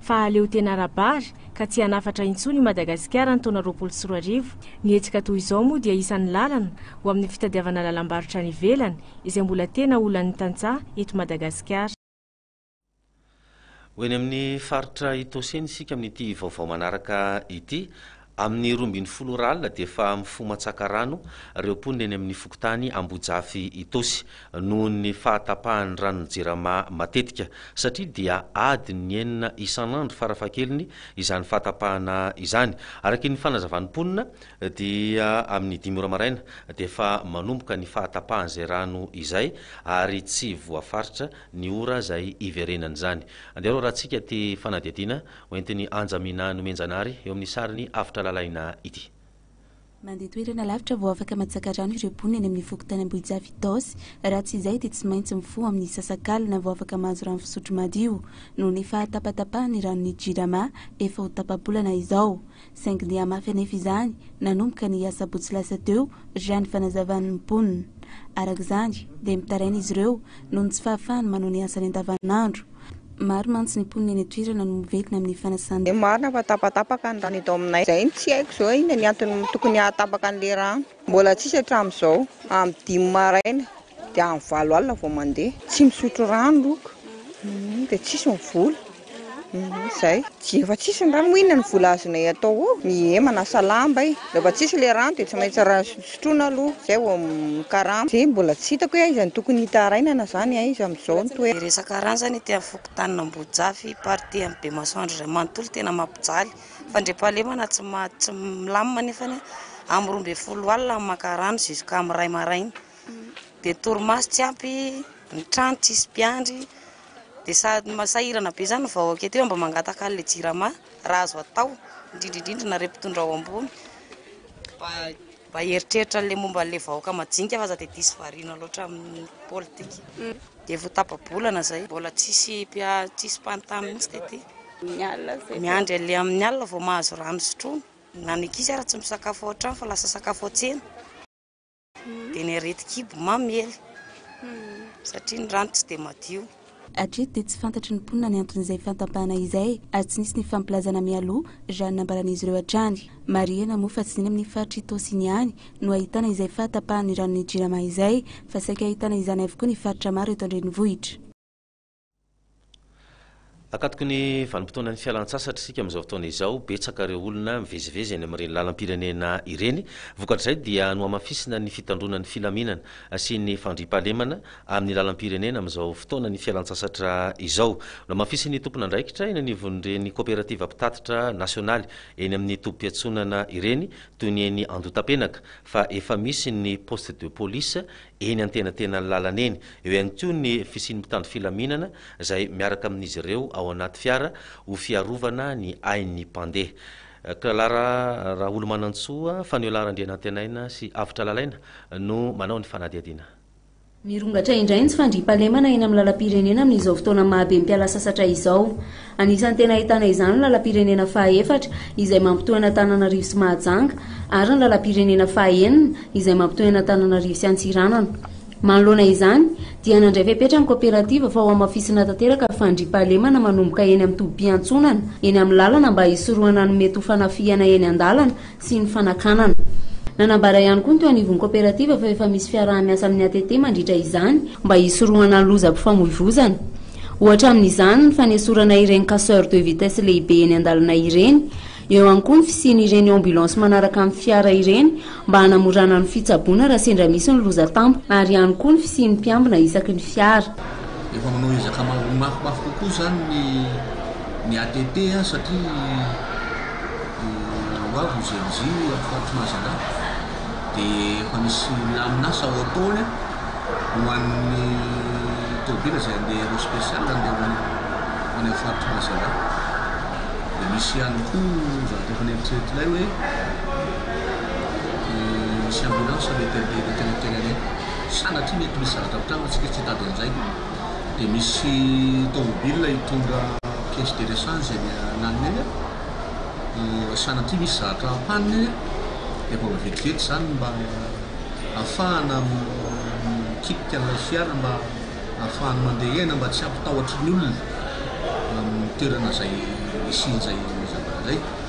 fa aleo tena ara-bary ka tsy hanafatra intsony i Madagasikara ny taona roapolo sy roa arivo. Ny hetsika toy izao moa dia isan'ny lalana ho amin'ny fitadiavana lalam-barotra any ivelany izay mbola tena olan'ny tantsaha eto Madagasikara. Ho eny amin'ny faritra Itaosy eny isika amin'ity vaovao manaraka ity. Amin'ny roa ambin'ny folo ora alina dia efa mifoha matsaka rano ireo mponina eny amin'ny fokontany Ambojafy Itaosy noho ny fahatapahan'ny ranon'ny Jirama matetika satria dia adiny enina isan'andro farafahakeliny izany fahatapahana izany. Araka ny fanazavan'ny mponina dia amin'ny dimy ora maraina dia efa manomboka ny fahatapahan'izay rano izay ary tsy voafaritra ny ora izay hiverenany izany. Andeha aloha raha tsika aty fanadihadiana Hoentin'i Anja Minah Nomenjanary eo amin'ny sarin'i Avotra Lalaina ity. Mandeha toerana lavitra vao afaka matsaka rano ireo mponina eny amin'ny fokontany Ambohijafy Itaosy. Raha tsy izay dia tsy maintsy mifoha amin'ny sasakalina vao afaka mahazo rano fisotro madio noho ny fahatapatapahany ny ranon'ny Jirama efa ho tapa-bolana izao. saingy nihamafy anefa izany nanomboka ny asabotsy lasa teo raha ny fanazavan'ny mponina. Araka izany dia mitaraina izy ireo noho ny tsy fahafahany manao ny asany andavanandro. Maro mantsy ny mponina eny an-toerana no mivetina amin'ny fanasana. Marina fa tapatapaka ny rano eto aminay. Izay no tsy haiko izao inona ny antony tokony hahatapaka an'ilay rano. Mbola tsisy hatramin'izao, amin'ny dimy maraina dia amin'ny valo alina vao mandeha. Tsy misotro rano loko, dia tsisy ny vola, izay. Tsy, efa tsisy ny rano, moa inona ny vola azonay atao eo? Ie, manasa lamba e! Rehefa tsisy ilay rano dia tsy maintsy sotroina aloha, izay vao mikarama. Dia mbola tsy hitako hoe aiza no tokony hitarainana izany, aiza amin'izao ny toerana. Resaka rano izany ety amin'ny fokontanin'Ambohijafy, partie an'i Bemasoandro iray manontolo, tena mampijaly. Fandriampahalemana tsy maha tsy milamina anefa ny amin'ny roa ambin'ny folo alina ny maka rano jusqu'à amin'ny iray maraina. Dia torimaso tsy ampy, ny trano tsisy mpiandry, dia sady ma- sahirana be zany ny vahoaka ety hoe mba mangataka an'ilay jirama raha azo atao, indrindra indrindra nareo mpitondra ao ambony mba. Mba eritreritra an'ilay momba an'ilay vahoaka majinika fa aza dia diso variana loatra amin'ny politika. Dia efa ho tapa-bolana izay, mbola tsisy tsisy mpanontany mihitsy tety. Miandry an'ilay amin'ny alina vao mahazo rano hisotroana. Na ny ankizy ary tsy misakafo ao an-trano fa lasa sakafo ao an-tsena. Dia ny aretin-kibo mamely satria ny rano tsy dia madio. Hatreto dia tsy fantatry ny mponina ny anton'izay fantampahana izay ary tsy nisy ny fampilazana mialoha raha ny nambaran'izy ireo hatrany. Marihina moa fa tsy ny eny amin'ny faritr'i Tosiny ihany no ahitana izay fahatapahan'ny ranon'ny Jirama izay fa saika ahitana izany avokoa ny faritra maro eto an-drenivohitra. Akatoky ny vanim-potoanan'ny fialan-tsasatra isika amin'izao fotoana izao, betsaka ireo olona mivezivezy eny amin'ireny lalam-pirenena ireny. Vokatr'izay dia nohamafisina ny fitandroana ny filaminana sy ny fandriampahalemana amin'ny lalam-pirenena amin'izao fotoana ny fialantsasatra izao. Nohamafisin'ny tompon'andraikitra eny anivon'ireny kaoperativa mpitatitra nasionaly eny amin'ny tobim-piantsonana ireny, toy ny eny Andotapenaka, fa efa misy ny poste de police eny antenatenan'ny lalana eny. Eo ihany koa ny fisian'ny mpitandro filaminana izay miaraka amin'izy ireo ao anaty fiara ho fiarovana ny ain'ny mpandeha. Klara Raholomanantsoa, Faniola Randrianantenaina sy Avotra Lalaina no manao ny fanadihadiana. Mirongatra indray ny tsy fandriampahalemana eny amin'ny lalam-pirenena amin'izao fotoana maha be mpiala sasatra izao. Anisan'ny tena ahitana izany ny lalam-pirenena faha efatra izay mampitohy an'Antananarivo sy Mahajanga ary ny lalam-pirenena faha enina izay mampitohy an'Antananarivo sy Antsiranana. Manoloana izany dia nandray fepetra ny kaoperativa fa hohamafisina tanteraka ny fandriampahalemana manomboka eny amin'ny tobim-piantsonana eny amin'ny lalana mba hisorohana ny mety ho fanafihana eny an-dalana sy ny fanakanana. Nanambara ihany koa ny teo anivon'ny kaoperativa fa efa misy fiaraha-miasa amin'ny ATT mandritra izany mba hisorohana ny lozam-pifamoivozana. Ohatra amin'izany ny fanesorana ireny casseurs de vitesse lehibe eny an-dalana ireny. Eo ihany koa ny fisian'ireny ambulance manaraka amin'ny fiara ireny mba hanamorana ny fitsaboana raha sendra misy ny loza tampoka ary ihany koa ny fisian'ny mpiambina isaky ny fiara. Efa manao ezaka mafimafy kokoa izany ny ATT satria. dia ho avy ny GMJ amin'ny faritr'i Mazandahy dia efa misy milamina asa ao am-poany ho an'ny tômôbila izay handeha aéro spécial ny eo amin'ny any amin'ny faritr'i Mazandahy. Dia misy ihany koa zavatra efa neritreritry ilay hoe misy ambulance mety handeha eny an-tanan-tenanay. Sanatria mety misy zavatra hampitandrina antsika tsy hitady an'izay. dia misy tomobil hitondra caisse de rechange eny ananona eny dia sanatria misy zavatra panne dia mbola vetivety izany mba hahafahana mikitika an'ilay fiara mba hahafahany mandeha eny mba tsy hampitahotry ny olona amin'ny toerana izay hisian'izay zavatra izay.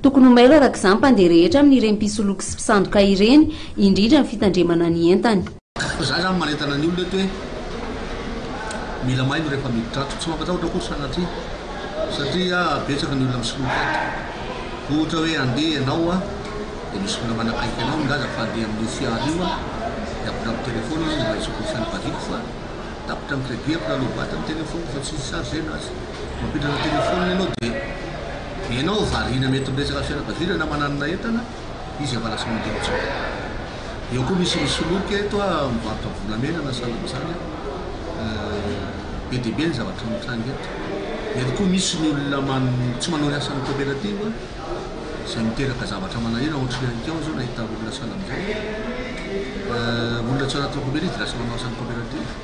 Tokony ho mailo araka izany mpandeha rehetra amin'ireny mpisoloky sy mpisandoka ireny, indrindra ny fitandremana ny entany. Za zany manentana ny olona eto hoe mila mailo rehefa miditra ato, tsy mampatahotra akory sanatria satria betsaka ny olona misoloky ato, ohatra hoe andeha ianao dia misy olona manakaiky anao milaza fa andeha amin'io fiara io aho, dia apitra amin'ny téléphone aho mba hisoko ny sain'ny vadiko fa tapitra ny crédit, apitra low bat ny téléphone fa tsy hi-charge-na azy, mampiditra téléphone ianao dia. Ianao variana mety amin'ny resaka fianakaviana na mananona entana izy efa lasa mandeha intsony. Eo koa misy misoloky eto a mivarotra volamena na sahala amin'izany a. Be dia be ny zavatra mitranga eto. Mety koa misy ny olona tsy manao ny asan'ny cooperative a izay miteraka zavatra manahirana ohatran'ny alikao izao nahita olona sahala amin'izao. Olona tsy ao anatin'ny cooperative dia lasa manao asan'ny cooperative.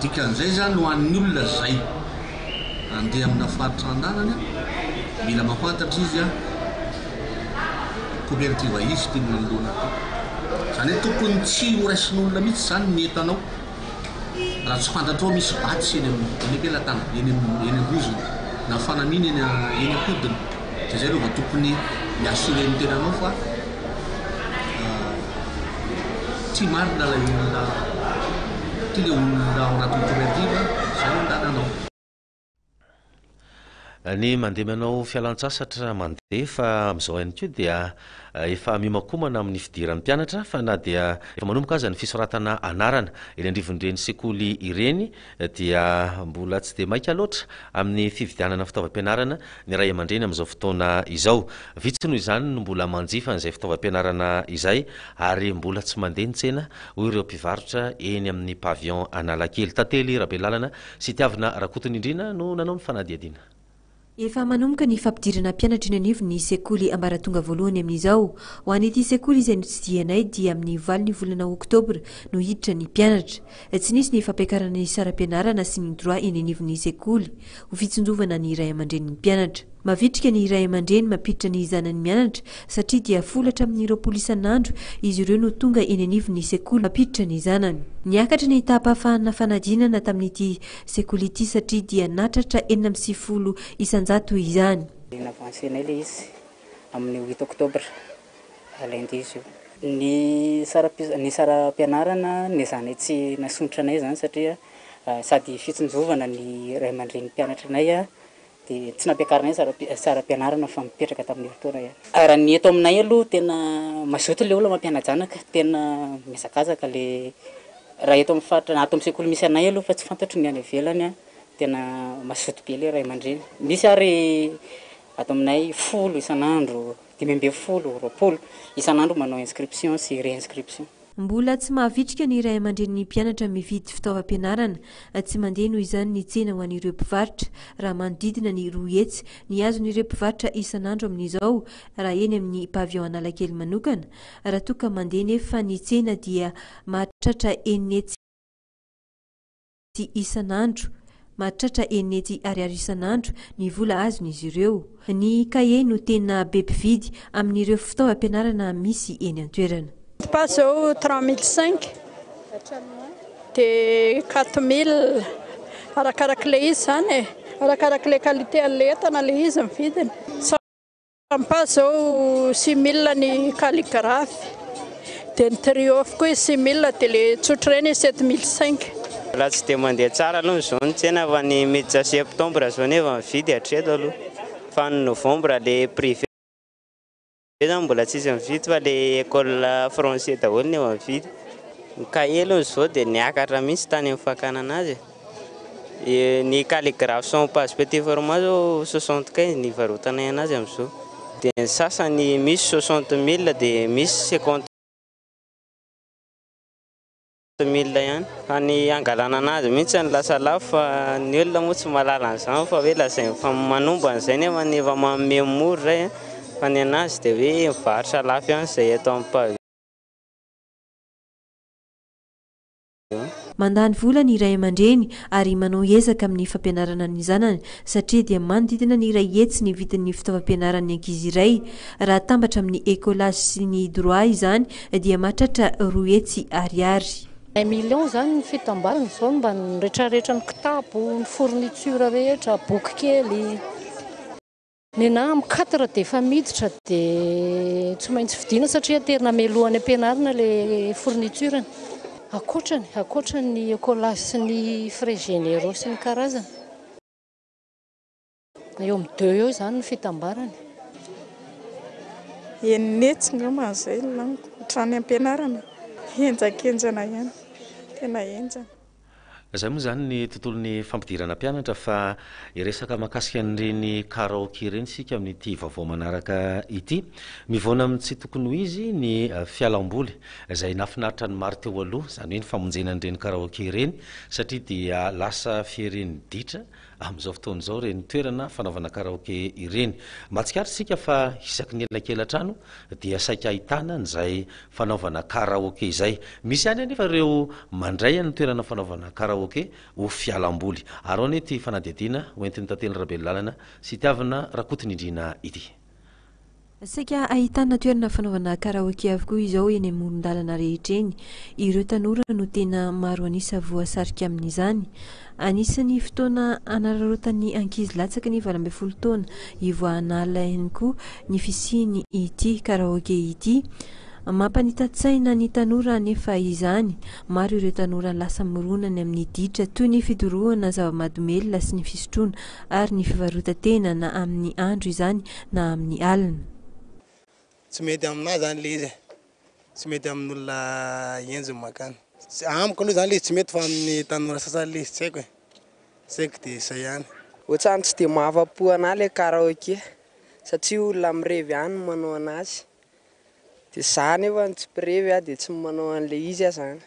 Dikan'izay zany ho an'ny olona zay andeha amina faritra andaniny mila mafantatra izy a copertive izy ty manoloana ty zany hoe tokony tsy ho raisin'olona mitsy zany ny entanao raha tsy fantatrao misy vatsy eny am-pelatana eny eny am-bozona na fanamiana eny eny am-podiny de zay aloha vao tokony mi-assurer ny tenanao fa tsy marina ilay olona ty le olona ao anaty cooperative zay no ilana anao ny mandeha manao fialantsasatra mandeha fa amin'izao ihany koa dia eh, efa mihomakomana amin'ny fidiran'ny mpianatra fa na dia efa manomboka aza ny fisoratana anarana eny andrivon'ireny sekoly ireny dia mbola tsy dia maika loatra amin'ny fividianana fitaovam-pianarana ny ray aman-dreny amin'izao fotoana izao. Vitsy noho izany no mbola manjifa an'izay fitaovam-pianarana izay ary mbola tsy mandeha ny tsena, hoy ireo mpivarotra eny amin'ny Pavillon Analakely. Tantely Rabelalana sy Tiavina Rakotonindrina no nanao ny fanadihadiana. Efa manomboka ny fampidirana mpianatra eny anivon'ny sekoly ambaratonga voalohany amin'izao. Ho an'ity sekoly izay notsidihanay dia amin'ny valin'ny volana oktobra no hiditra ny mpianatra. Tsy nisy ny fampiakarana ny saram-pianarana sy ny droit eny anivon'ny sekoly. Ho fitsinjovana ny ray aman-drenin'ny mpianatra. Mavitrika ny ray aman-dreny mampiditra ny zanany mianatra satria dia folo hatramin'ny roapolo isan'andro izy ireo no tonga eny anivon'ny sekoly mampiditra ny zanany. Niakatra ny taham-pahafahanna fanadinana tamin'ity sekoly ity satria dia natratra enina amby sivifolo isan-jato izany. Navancenay ilay izy amin'ny huit octobre, lundi izy io. Ny saram-piz- ny saram-pianarana nezanay tsy nasondrotra anay izany satria sady fitsinjovana ny ray aman-drenim-pianatra anay Dia tsy nampiakarina ihany saram-pianarana fa mipetraka tamin'ny herintaona ihany. Raha ny eto aminay aloha tena mazoto ilay olona mampiana-janaka, tena mihazakazaka ilay raha eto amin'ny faritra na ato amin'ny sekoly misy anay aloha fa tsy fantatro ny any ivelany an, tena mazoto be ilay ray aman-dreny. Misy ary ato aminay folo isan'andro, dimy ambin'ny folo, roapolo isan'andro manao inscription sy re-inscription. Mbola tsy mahavitrika ny ray aman-drenin'ny mpianatra mividy fitaovam-pianarana. Tsy mandeha noho izany ny tsena ho an'ireo mpivarotra. Raha manodidina ny roa hetsy ny hazon'ireo mpivarotra isan'andro amin'izao raha eny amin'ny Pavillon Analakely manokana. Raha toa ka mandeha nefa ny tsena dia mahatratra enina hetsy. sy isan'andro. Mahatratra eny nety ariary isan'andro ny vola azon'izy ireo. Ny kahie no tena be mpividy amin'ireo fitaovam-pianarana misy eny an-toerana. Pas zao trois mille cinq dia quatre mille arakarak'ilay izy izany e, arakarak'ilay qualité an'ilay entana ilay izy ny vidiny. Sampa zao simila ny calligraphe dia ny triomphe koa izy simila dia le tsotra ireny izy sept mille cinq. Raha tsy dia mandeha tsara aloha izao ny tsena fa ny miditra septembre izao nefa mividy hatreto aloha fa ny novembre le privé zany mbola tsisy mividy fa le ecole français daholo no efa mividy ny cahier aloha zao dia niakatra mihitsy tany amin'ny fakanana azy e. Ny calligraphe sans page petit format zao soixante quinze ny ivarotanay anazy amzao de ny sasany misy soixante mille de misy cinquante mille ihany fa ny hangalana anazy mihitsy no lasa lafo fa ny olona moa tsy mahalala an'izany fa hoe lazainy fa manombo an'izay nefa ny efa manome mora zay an, fa ny anazy dia hoe mivarotra lafo ihany izay eto am page. Mandany vola ny ray aman-dreny ary manao ezaka amin'ny fampianarana ny zanany satria dia manodidina ny iray hetsy ny vidin'ny fitaovam-pianaran'ny ankizy iray. Raha atambatra amin'ny Ecolage sy ny Droit izany dia mahatratra roa hetsy Ariary. Un million izany ny fitambarana izao mba ny retraretra ny kitapo, ny fourniture rehetra, boky kely. Nenah am quatre dia efa miditra dia tsy maintsy vidiana satria aterina mialohan'ny ampianarina le fourniture ny. Ankoatrany, ankoatrany ny ecolas sy ny frais généraux sy ny karazany. Eo am deux eo izany ny fitambarany. Enina hetsy ngamba izay laniko hatrany ampianarana. Henjakenjana ihany, tena henjana. Izay moa izany ny tontolon'ny fampidirana mpianatra fa hiresaka mahakasika an'ireny karaoke ireny isika amin'ity vaovao manaraka ity. Mivoana amin'ny tsy tokony ho izy ny fialamboly izay nahafinaritra ny maro teo aloha, izany hoe ny famonjena an'ireny karaoke ireny satria dia lasa fiherin'ny ditra Amin'izao fotoana izao ireny toerana fanaovana karaoke ireny. Mahatsikaritra isika fa isaky ny elakelan-trano dia saika ahitana an'izay fanaovana karaoke izay. Misy ihany anefa ireo mandray an'ny toerana fanaovana karaoke ho fialam-boly. Arao anie ity fanadihadiana hoentin'i Tantely Rabelonlalana sy Itiavina Rakotonindriana ity. Saika ahitana toerana fanaovana karaoke avokoa izao eny amoron-dalana rehetra eny. Ireo tanora no tena maro an'isa voasarika amin'izany. Anisan'ny fotoana hanararaotan'ny ankizy latsaky ny valo ambin'ny folo taona hivoahana alina ihany koa ny fisian'ity karaoke ity. Mampanita-tsaina ny tanora anefa izany. Maro ireo tanora lasa mirona ny amin'ny ditra toy ny fidorohana zava-mahadomelina sy ny fisotroana ary ny fivarotan-tena na amin'ny andro izany na amin'ny alina. Tsy mety aminà zany le izy e, tsy mety amin'olona henjy ny makany. Amiko aloha zany le izy tsy mety fa amin'ny tanora sasany le izy tsy haiko e, tsy haiko de zay ihany. Ohatrany tsy dia mahafa-po anà le karaoke satria olona mirevy ihany no manao an'azy de zà nefa no tsy mpirevy a de tsy manao an'le izy a zany.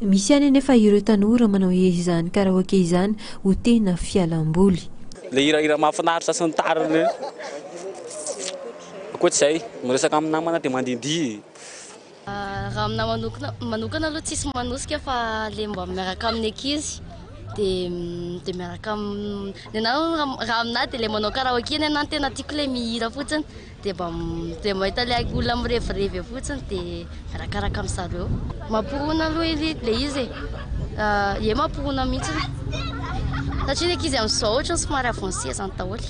Misy ihany anefa ireo tanora manao izany karaoke izany ho tena fialamboly. Ilay hirahira mahafinaritra sy ny tariny ireny. Ankoatra izay, miresaka amin'ny namana dia mandihindihy. Raha aminà manokana aloha tsisy manosika fa ilay mba miaraka amin'ny ankizy dia miaraka amin'ny anà. Raha aminà dia ilay manao karaoke ny anà no tena tiako, ilay mihira fotsiny. dia mba dia mahita ilay olona mirevirevy eo fotsiny dia arakaraka amin'ny zareo mampihona aloha ilay izy e eh. eh, mampihona mihitsy satria ny ankizy amin'izao ohatra ny somary avancé izany daholo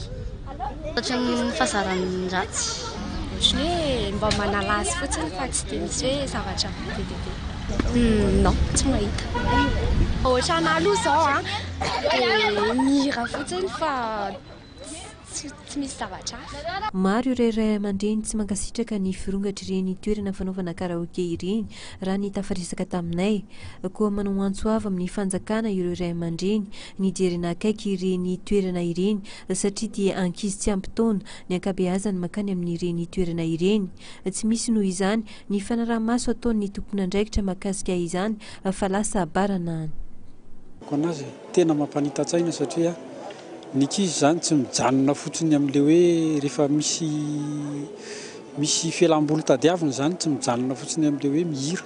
satria ny fahazaran'ny ratsy ohatry hoe mba manala azy fotsiny fa tsy dia misy hoe zavatra be dia be hmm, non tsy mahita ohatra an'aloha izao a ah, dia mihira fotsiny fa Tsy tsy misy zavatra hafa. Maro ireo ray aman-dreny tsy mankasitraka ny firongatr'ireny toerana fanaovana karaoke ireny, raha ny tafaresaka taminay. Koa manao antso avo amin'ny fanjakana ireo ray aman-dreny ny hijerena akaiky ireny toerana ireny satria dia ankizy tsy ampy taona ny ankabeazany mankany amin'ireny toerana ireny. Tsy misy noho izany ny fanaraha-maso ataon'ny tompon'andraikitra mahakasika izany fa lasa baranahiny. Ho an'azy, tena mampanita-tsaina satria Ny ankizy izany tsy mijanona fotsiny amin'ilay hoe rehefa misy misy fialam-boly tadiavina izany, tsy mijanona fotsiny amin'ilay hoe mihira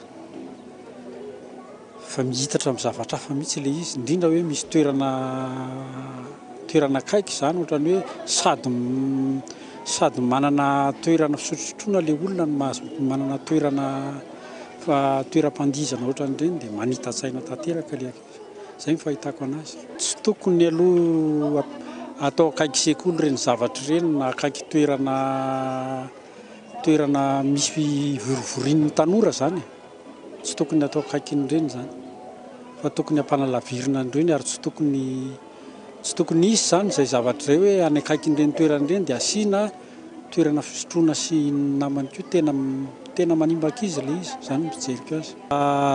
fa mihitatra amin'ny zavatra hafa mihitsy ilay izy, indrindra hoe misy toerana toerana akaiky izany ohatran'ny hoe sady sady manana toerana fisotrosotroana ilay olona no mahazo manana toerana fa toeram-pandihizana ohatran'ireny dia manita-tsaina tanteraka ilay ankizy. Izay ny fahitako anazy. Tsy tokony aloha atao akaiky sekoly ireny zavatra ireny na akaiky toerana toerana misy fivorivorian'ny tanora izany e. Tsy tokony atao akaikin'ireny izany fa tokony ampanalavirina an'ireny ary tsy tokony tsy tokony hisy izany izay zavatra izay hoe any akaikin'ireny toerana ireny dia asiana toerana fisotroana sy ny namany koa tena tena manimba ankizy ilay izy, izany ny fijeriko azy.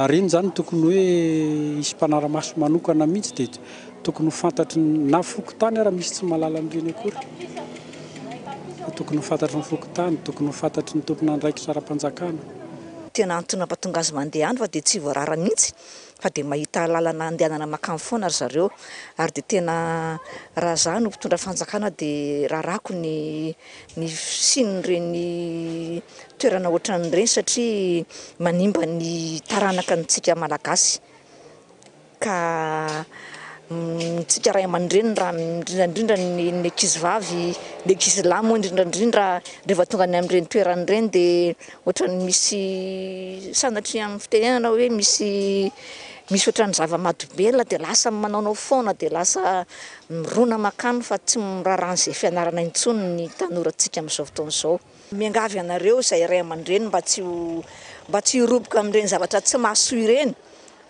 Ireny izany no tokony hoe hisy mpanara-maso manokana mihitsy dia tokony ho fantatry ny na fokontany ary misy tsy mahalala an'ireny akory fa tokony ho fantatry ny fokontany, tokony ho fantatry ny tompon'andraikitra ara-panjakana. Tena antony mampatonga azy mandeha any fa dia tsy voarara mihitsy fa dia mahita lalana andehanana makany foana ry zareo ary dia tena raha za no mpitondra fanjakana dia rarako ny ny fisian'ireny toerana ohatran'ireny satria manimba ny taranaka antsika malagasy ka ntsika ray aman-dreny raha indrindraindrindra ny ny ankizy vavy ny ankizy lahy moa indrindraindrindra rehefa tonga any amin'ireny toerana ireny dia Ohatran'ny misy sanatria amin'ny fitenenana hoe misy misy ohatran'ny zava-mahadomelina dia lasa manaonao foana dia lasa mirona mankany fa tsy miraharaha an'izay fianarana intsony ny tanorantsika amin'izao fotoana izao. Miangavy anareo izay ray aman-dreny mba tsy ho mba tsy hiroboka amin'ireny zavatra tsy mahasoa ireny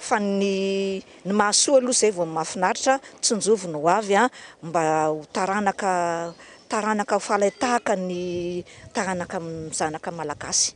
fa ny ny mahasoa aloha izay vao mahafinaritra, tsinjovy ny hoavy an! mba ho taranaka Taranaka fale tahaka ny taranaka zanaka malagasy.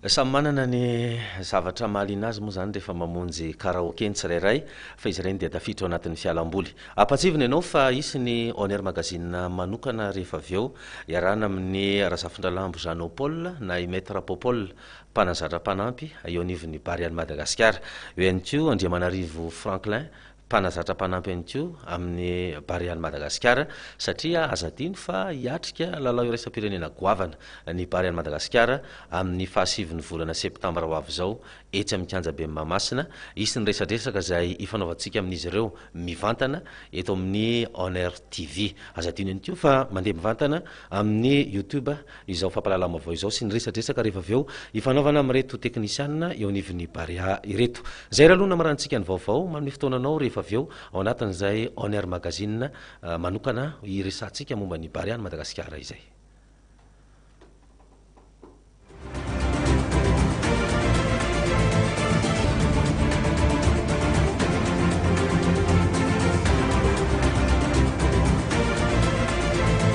Samy manana ny zavatra mahaliana azy moa izany rehefa mamonjy karaoke ny tsirairay fa izy ireny dia tafiditra ao anatin'ny fialamboly. Ampahatsivina ianao fa hisy ny On Air Magazine manokana rehefa avy eo, iarahana amin'i Razafindralambo Jeannot Paul na i Maître Popol, mpanazatra mpanampy, eo anivon'ny Barea-n'i Madagasikara. Eo ihany koa Andriamanarivo Franklin, mpanazatra mpanampy ihany koa amin'ny Barean'i Madagasikara satria aza adino fa hiatrika lalao iraisam-pirenena goavana ny Barean'i Madagasikara amin'ny fahasivin'ny volana septambra ho avy izao etsy amin'ny kianjaben'i Mahamasina. Hisy ny resadresaka izay hifanaovantsika amin'izy ireo mivantana eto amin'ny On Air TV. Aza adino ihany koa fa mandeha mivantana amin'ny YouTube izao fampahalalam-baovao izao sy ny resadresaka rehefa avy eo ifanaovana amin'ireto teknisianina eo anivon'ny Barea ireto. Izay raha aloha no hamaranantsika ny vaovao, manome fotoana anao rehefa avy eo ao anatin'izay On Air Magazine manokana hiresahantsika momba ny Barea an'i Madagasikara izay.